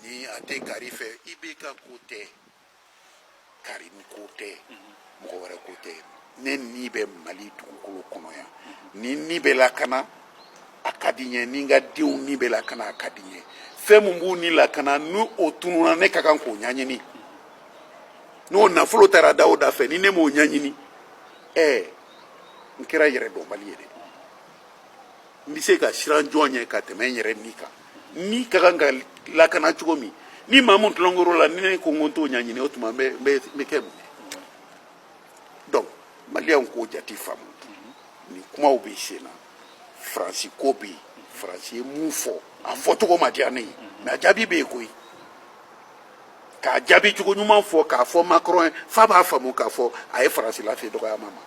ni a tɛ kari fɛ IBK ko tɛ Karim ko tɛ mɔgɔ wɛrɛ ko tɛ ne ni bɛ mali dugukolo kɔnɔ yan ni ni bɛ lakana a ka di n ye ni n ka denw ni bɛ lakana a ka di n ye fɛn min b'u ni lakana ni o tununna ne ka kan k'o ɲɛɲini n'o nafolo taara da o da fɛ ni ne m'o ɲɛɲini ɛɛ n kɛra yɛrɛdɔnbali ye dɛ n bɛ se ka siran jɔn ɲɛ ka tɛmɛ n yɛrɛ ni kan ni ka kan ka lakana cogo min ni maa min tulonkɛr'o la ni ne ko n ko n t'o ɲɛɲini o tuma n bɛ n bɛ n bɛ kɛ mun ye donc maliyɛnw k'o jate faamu nin kumaw bɛ sen na faransi ko bɛ yen faransi ye mun fɔ a fɔcogo ma diya ne ye mais a jaabi bɛ yen koyi k'a jaabi cogo ɲuman fɔ k'a fɔ macron ye f'a b'a faamu k'a fɔ a ye faransi lase dɔgɔyama ma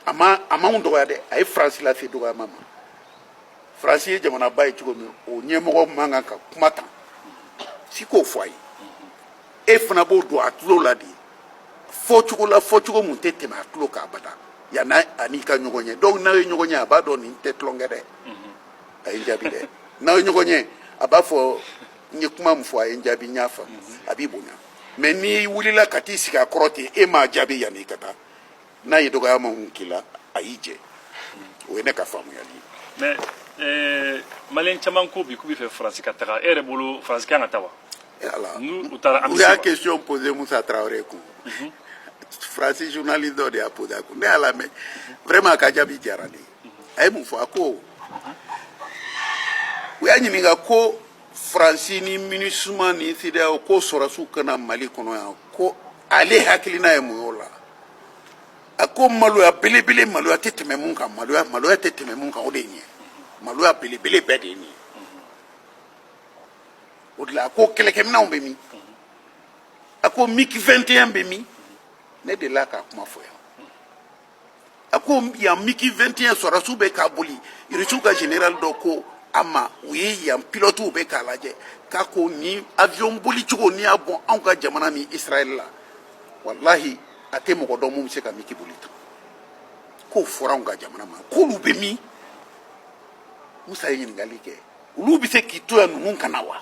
a ma a m'anw dɔgɔya dɛ a ye faransi lase dɔgɔyama ma faransi ye jamanaba ye cogo min o ɲɛmɔgɔ man kan ka kuma ta si k'o fɔ a ye e fana b'o don a tulo la de fɔcogo la fɔcogo min tɛ tɛmɛ a tulo kan abada yanni a n'i ka ɲɔgɔn ye dɔw n'aw ye ɲɔgɔn ye a b'a dɔn nin tɛ tulonkɛ dɛ a ye n jaabi dɛ n'aw ye ɲɔgɔn ye a b'a fɔ n ye kuma min fɔ a ye n jaabi n y'a faamu a b'i bonya mais n'i wulila ka t'i sigi a kɔrɔ ten e m'a jaabi yanni i ka taa n'a ye dɔgɔyama min k'i la a y'i jɛ o ye ne ka faamuyali ye mais maliyɛn caman ko bi k'u b'a fɛ faransi ka taga e yɛrɛ bolo faransi kan ka taa wa voilà u taara u y'a question posé Moussa Traoré kun mhm. faransi journaliste dɔ de y'a posé a kun ne y'a lamɛn vraiment a ka jaabi diyara ne ye mhm. a ye mun fɔ a ko u y'a ɲininka ko faransi ni minisuma ni sedeyaw ko sɔrɔsiw ka na mali kɔnɔ yan ko ale hakilina ye mun y'o la a ko maloya belebele maloya tɛ tɛmɛ mun kan maloya maloya tɛ tɛmɛ mun kan o de ye nin ye maloya belebele bɛɛ de ye nin ye o de la a ko kɛlɛkɛminɛnw bɛ min a ko miki 21 bɛ min ne delila k'a kuma fɔ yan a ko yan miki 21 sɔrɔsiw bɛ k'a boli irisiw ka general dɔ ko a ma u ye yan pilotiw bɛ k'a lajɛ k'a ko nin avion boli cogo n'i y'a bɔ anw ka jamana ni israɛl la walahi a tɛ mɔgɔ dɔn mun bɛ se ka miki boli tan k'o fɔra anw ka jamana ma k'olu bɛ min musa ye ɲininkali kɛ olu bɛ se k'i to yan ninnu ka na wa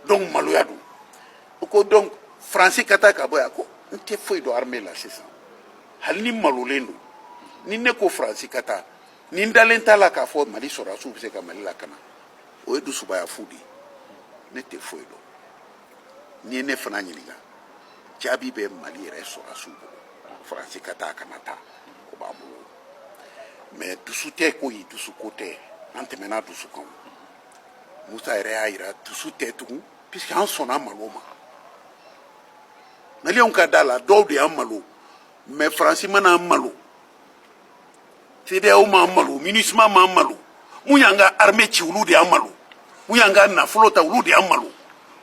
donc maloya don o ko donc faransi ka taa ka bɔ yan ko n tɛ foyi dɔn armée la sisan hali ni n malolen don ni ne ko faransi ka taa ni n dalen t'a la k'a fɔ mali sɔrɔdasiw bɛ se ka mali lakana o ye dusubaya fu de ye ne tɛ foyi dɔn n'i ye ne fana ɲininka jaabi bɛ mali yɛrɛ sɔrɔdasiw bolo faransi ka taa a kana taa o b'an bolo mais dusu tɛ koyi dusuko tɛ an tɛmɛna dusu kan musa yɛrɛ y'a yira dusu tɛ tugun puisque an sɔnna malo ma maliyɛnw ka d'a la dɔw de y'an malo mais faransi ma na an malo sedeyaw m'an malo minisima m'an malo mun y'an ka arme ci olu de y'an malo mun y'an ka nafolo ta olu de y'an malo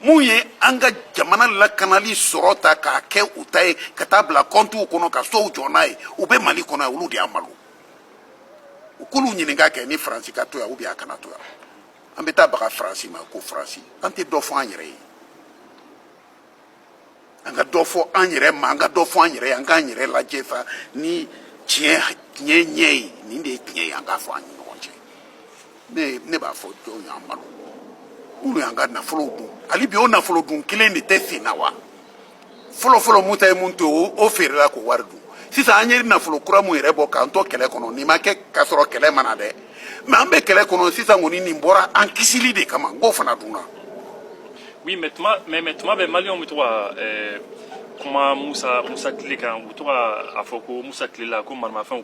mun ye an ka jamana lakanali sɔrɔ ta k'a kɛ u ta ye ka taa bila kɔntiw kɔnɔ ka sow jɔ n'a ye u bɛ mali kɔnɔ olu de y'an malo u k'olu ɲininka kɛ ni faransi ka to yan ou bien a kana to yan an bɛ taa baga faransi ma ko faransi an tɛ dɔ fɔ an yɛrɛ ye an ka dɔ fɔ an yɛrɛ ma an ka dɔ fɔ an yɛrɛ ye an k'an yɛrɛ lajɛ fa ni tiɲɛ tiɲɛ ɲɛ ye nin de ye tiɲɛ ye an k'a fɔ an ni ɲɔgɔn cɛ ne ne b'a fɔ jɔn y'an malo minnu y'an ka nafolo dun hali bi o nafolo dun kelen de tɛ sen na wa fɔlɔfɔlɔ musa ye mun to yen o feerela k'o wari dun sisan an ye nafolo kura mun yɛrɛ bɔ k'an to kɛlɛ kɔnɔ nin ma kɛ k'a sɔrɔ kɛlɛ ma na dɛ mais an bɛ kɛlɛ kɔnɔ sisan kɔni nin bɔra an kisili de kama n k'o fana dunna. oui mais tuma mais mais tuma bɛɛ maliyɛnw bɛ to ka ɛɛ kuma musa musa tile kan u bɛ to ka a fɔ ko musa tile la ko maramafɛnw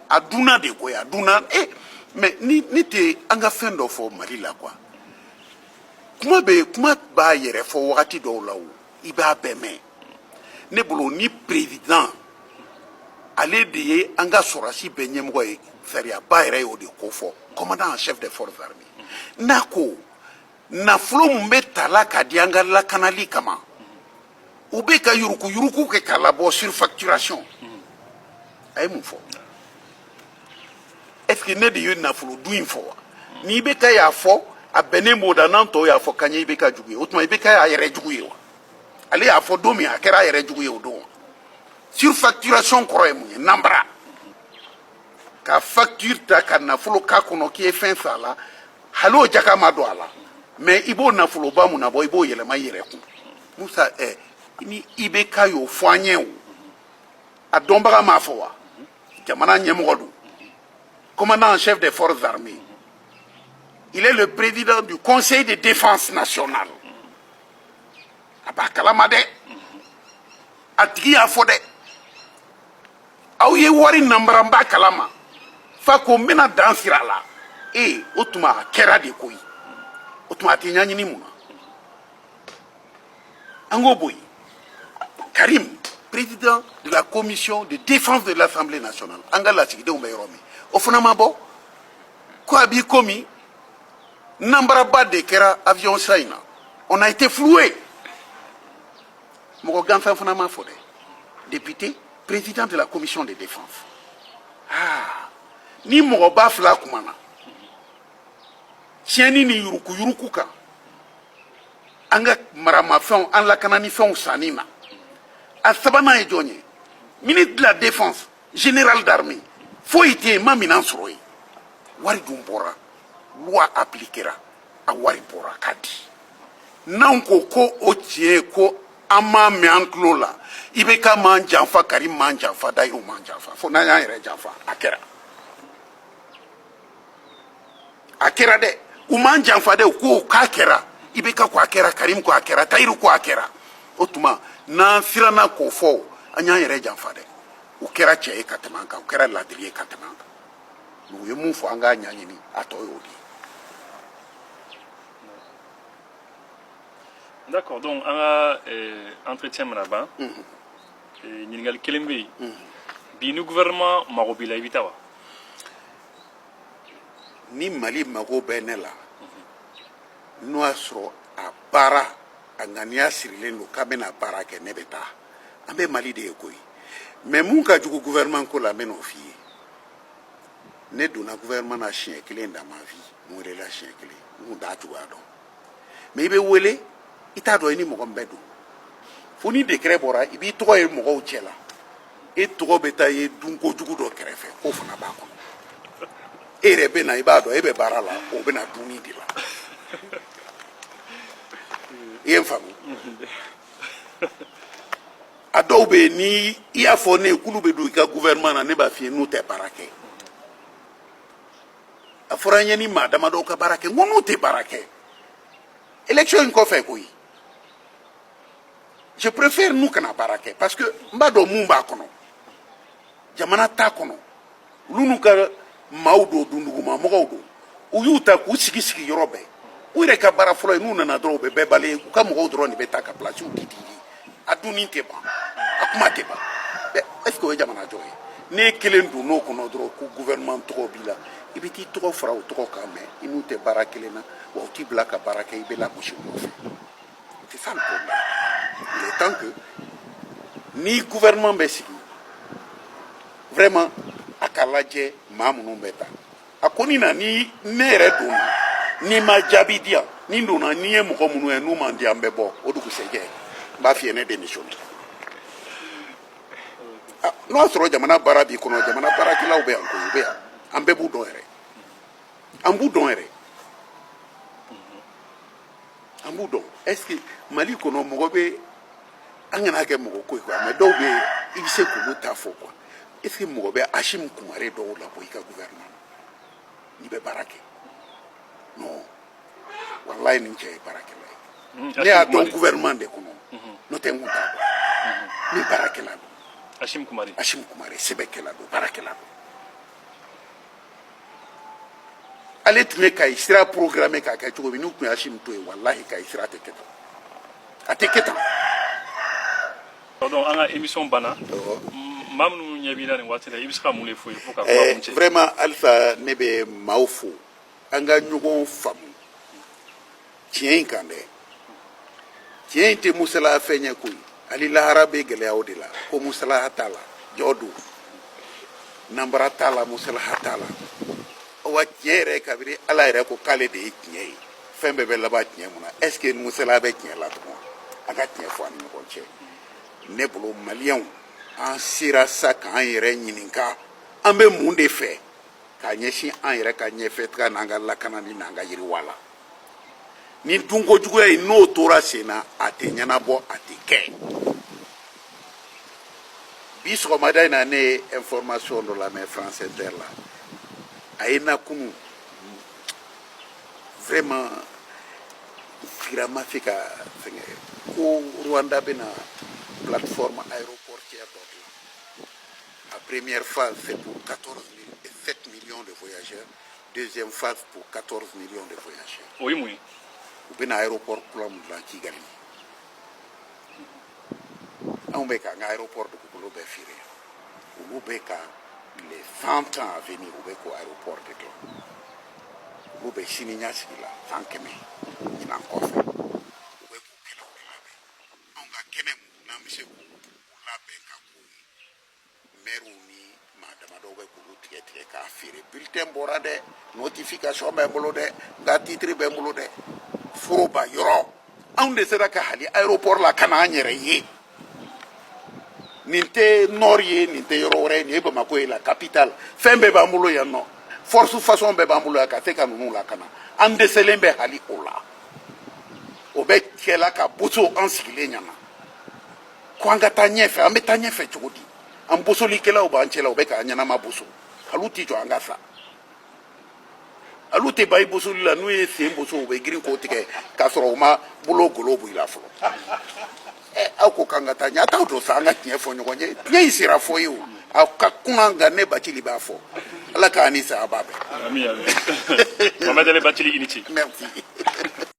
a dunna de koyi a dunna e mais ni ne tɛ an ka fɛn dɔ fɔ mali la quoi kuma bɛ yen kuma b'a yɛrɛ fɔ wagati dɔw la o i b'a bɛɛ mɛn ne bolo ni perezidan ale de ye an ka sɔrɔdasi bɛɛ ɲɛmɔgɔ ye sariyaba yɛrɛ y'o de ko fɔ commandant chef des forces armées n'a ko nafolo mun bɛ tala ka di an ka lakanali kama u bɛ ka yurukuyuruku kɛ k'a labɔ surfacturation a ye mun fɔ est ce que ne de ye nafolo dun in fɔ wa ni IBK y'a fɔ a bɛnnen b'o da n'an tɔw y'a fɔ k'an ye IBK jugu ye o tuma IBK y'a yɛrɛ jugu ye wa ale y'a fɔ don min a kɛra a yɛrɛ jugu ye o don wa surfacturation kɔrɔ ye mun ye nanbara ka facture ta ka nafolo k'a kɔnɔ k'i ye fɛn san a la hali o jaka ma don a la mais i b'o nafoloba mɔɔnɔbɔ i b'o yɛlɛma i yɛrɛ kun musa ɛ ni IBK y'o fɔ an ye o a dɔnbaga m'a fɔ wa jamana ɲɛmɔgɔ don commandant en chef des forces armées il est le président du conseil de défense nationale a b'a kalama dɛ a tigi y'a fɔ dɛ aw ye wari nanbara n b'a kalama f'a ko n bɛna dan sira a la ee o tuma a kɛra de koyi o tuma a tɛ ɲaɲini mun na an k'o bɔ yen karim président de la commission de défense de l'assemblée nationale an ka lasigidenw bɛ yɔrɔ min o fana ma bɔ ko a b'i komi nanbaraba de kɛra avion san in na on a été floué mɔgɔ gansan fana m'a fɔ dɛ député président de la commission de défense ah ni mɔgɔ ba fila kuma na tiɲɛni ni yurukuyuruku kan an ka maramafɛnw an lakananifɛnw sanni na a sabanan ye jɔn ye ministre de la défense général d'armée foyi tɛ yen ma minan sɔrɔ yen wari dun bɔra loi appliquera a wari bɔra ka di n'anw ko ko o tiɲɛ ye ko an m'a mɛn an tulo la IBK m'an janfa karim m'an janfa dayiru m'an janfa fo n'an y'an yɛrɛ janfa a kɛra a kɛra dɛ u m'an janfa dɛ u ko k'a kɛra IBK ko a kɛra karimu ko a kɛra dayiru ko a kɛra o tuma n'an siranna k'o fɔ an y'an yɛrɛ janfa dɛ u kɛra cɛ ye ka tɛmɛ an kan u kɛra ladiri ye ka tɛmɛ an kan u ye mun fɔ an k'a ɲaɲini a tɔ y'o de ye D'accord, donc an ka eh, entretien mana ban mhm. eh, ɲininkali kelen bɛ yen mhm. bi ni gouvernement mago b'i la i bɛ taa wa ni mali mago bɛ ne la n'o y'a sɔrɔ a baara a ŋaniya sirilen don k'an bɛna baara kɛ ne bɛ taa an bɛ mali de ye koyi mais mun ka jugu gouvernement ko la n bɛn'o f'i ye ne donna gouvernement na siɲɛ kelen dans ma vie n welela siɲɛ kelen n tun t'a cogoya dɔn mais i bɛ wele i t'a dɔn i ni mɔgɔ min bɛ don fo ni dekɛrɛ bɔra i b'i tɔgɔ ye mɔgɔw cɛ la e tɔgɔ bɛ taa ye dunko jugu dɔ kɛrɛfɛ k'o fana b'a kɔnɔ e yɛrɛ bɛ na i b'a dɔn e bɛ baara la o bɛ na dumuni de la i ye n faamu a dɔw bɛ yen ni i y'a fɔ ne ye k'olu bɛ don i ka gouvernement na ne b'a f'i ye n'u tɛ baara kɛ a fɔra n ye n ni maa damadɔw ka baara kɛ n ko n'u tɛ baara kɛ élection in kɔfɛ koyi je préfère n'u kana baara kɛ parce que n b'a dɔn mun b'a kɔnɔ jamana t'a kɔnɔ olu n'u ka maaw don dunduguma mɔgɔw don u y'u ta k'u sigi sigi yɔrɔ bɛɛ u yɛrɛ ka baara fɔlɔ ye n'u nana dɔrɔn u bɛ bɛɛ bali u ka mɔgɔw dɔrɔn de bɛ ta ka pilasiw di di a dunni tɛ ban a kuma tɛ ban est ce que o ye jamana jɔ ye n'e kelen donn'o kɔnɔ dɔrɔn ko gouvernement tɔgɔ b'i la i bɛ t'i tɔgɔ fara o tɔgɔ kan mais i n'u tɛ baara kelen na wa u t'i bila ka baara kɛ i bɛ lagosi u nɔfɛ c'est ça le problème il est temps que ni gouvernement bɛ sigi vraiment a ka lajɛ maa minnu bɛ ta a kɔni na ni ne yɛrɛ donna n'i ma jaabi di yan ni n donna ni n ye mɔgɔ minnu ye n'u man di an bɛ bɔ o dugusɛjɛ n b'a f'i ye ne démissionne n'o y'a sɔrɔ jamana baara b'i kɔnɔ jamana baarakɛlaw bɛ yan koyi u bɛ yan an bɛɛ b'u dɔn yɛrɛ an b'u dɔn yɛrɛ an b'u dɔn est ce que mali kɔnɔ mɔgɔ bɛ an kan'a kɛ mɔgɔ ko ye quoi mais dɔw bɛ yen i bɛ se k'olu ta fɔ quoi est ce que mɔgɔ bɛ asimu kumare dɔw labɔ i ka gouvernement n'i bɛ baara kɛ non walayi nin cɛ ye baarakɛla ye ne y'a dɔn gouvernement de kɔnɔ n'o tɛ n kun t'a dɔn ni baarakɛla don asimu kumare asimu kumare sɛbɛkɛla don baarakɛla don ale tun ye kayi sira programmé k'a kɛ cogo min n'u tun ye asimu to yen walahi kayi sira tɛ kɛ tan a tɛ kɛ tan Donc, an ka émission banna. Awɔ. Maa minnu ɲɛ b'i la nin waati la, i bɛ se ka mun de f'u ye pour que ka kuma Eh, kuncɛ? vraiment halisa ne bɛ maaw fo an ka ɲɔgɔn faamu tiɲɛ in kan dɛ tiɲɛ in tɛ musala fɛn ye koyi hali lahara bɛ gɛlɛya o de la ko musala t'a la jo don nanbara t'a la musala t'a la awa tiɲɛ yɛrɛ kabiri ala yɛrɛ ko k'ale de ye tiɲɛ ye fɛn bɛɛ bɛ laban tiɲɛ mun na est ce que musala bɛ tiɲɛ la tugun a ka tiɲɛ fɔ a ni ɲɔgɔn cɛ ne bolo maliyɛnw an sera sa k'an yɛrɛ ɲininka an bɛ mun de fɛ ka ɲɛsin an yɛrɛ ka ɲɛfɛtaga n'an ka lakanani n'an ka yiriwa la nin dunkojuguya in n'o tora sen na a tɛ ɲɛnabɔ a tɛ kɛ bi sɔgɔmada in na ne ye information dɔ lamɛn france inter la a ye na kunu vraiment sigira ma se ka fɛngɛ ko rwanda bɛna plateforme aéroportuaire dɔ dilan la première phase c'est pour 7 millions de voyageurs deuxième phase pour 14 millions de voyageurs o ye mun ye u bɛna aéroport kura min dilan kigali anw bɛ ka an ka aéroport dugukolo bɛɛ feere olu bɛ ka les 20 ans à venir u bɛ k'o aéroport de dilan olu bɛ sini ɲɛsigi la san kɛmɛ ɲinan kɔfɛ u bɛ k'u kɛnɛw de labɛn anw ka kɛnɛ min n'an bɛ se k'u labɛn ka k'u ye mɛriw ni maa damadɔw bɛ k'olu tigɛ tigɛ k'a feere bulletin bɔra dɛ notification bɛ n bolo dɛ n ka titre bɛ n bolo dɛ foroba yɔrɔ anw dɛsɛra ka hali aéroport lakana an yɛrɛ ye nin tɛ nord ye nin tɛ yɔrɔ wɛrɛ ye nin ye bamakɔ ye la capitale fɛn bɛɛ b'an bolo yan nɔ force façon bɛɛ b'an bolo yan ka se ka ninnu lakana an dɛsɛlen bɛ hali o la o bɛ kɛla ka boso an sigilen ɲɛ na ko an ka taa ɲɛfɛ an bɛ taa ɲɛfɛ cogo di an bosolikɛlaw b'an cɛla u bɛ k'an ɲɛnama boso hali u t'i jɔ an ka sa hali u tɛ ban i bosoli la n'u ye sen boso u bɛ girin k'o tigɛ k'a sɔrɔ u ma bolo golo b'i la fɔlɔ ɛ aw ko k'an ka taa ɲɛ a t'aw don sa an ka tiɲɛ fɔ ɲɔgɔn ye tiɲɛ in sera fɔ ye o aw ka kuma nka ne bacili b'a fɔ ala k'a ni saya b'a bɛɛ. Mohamed Ali bacili i ni ce. merci.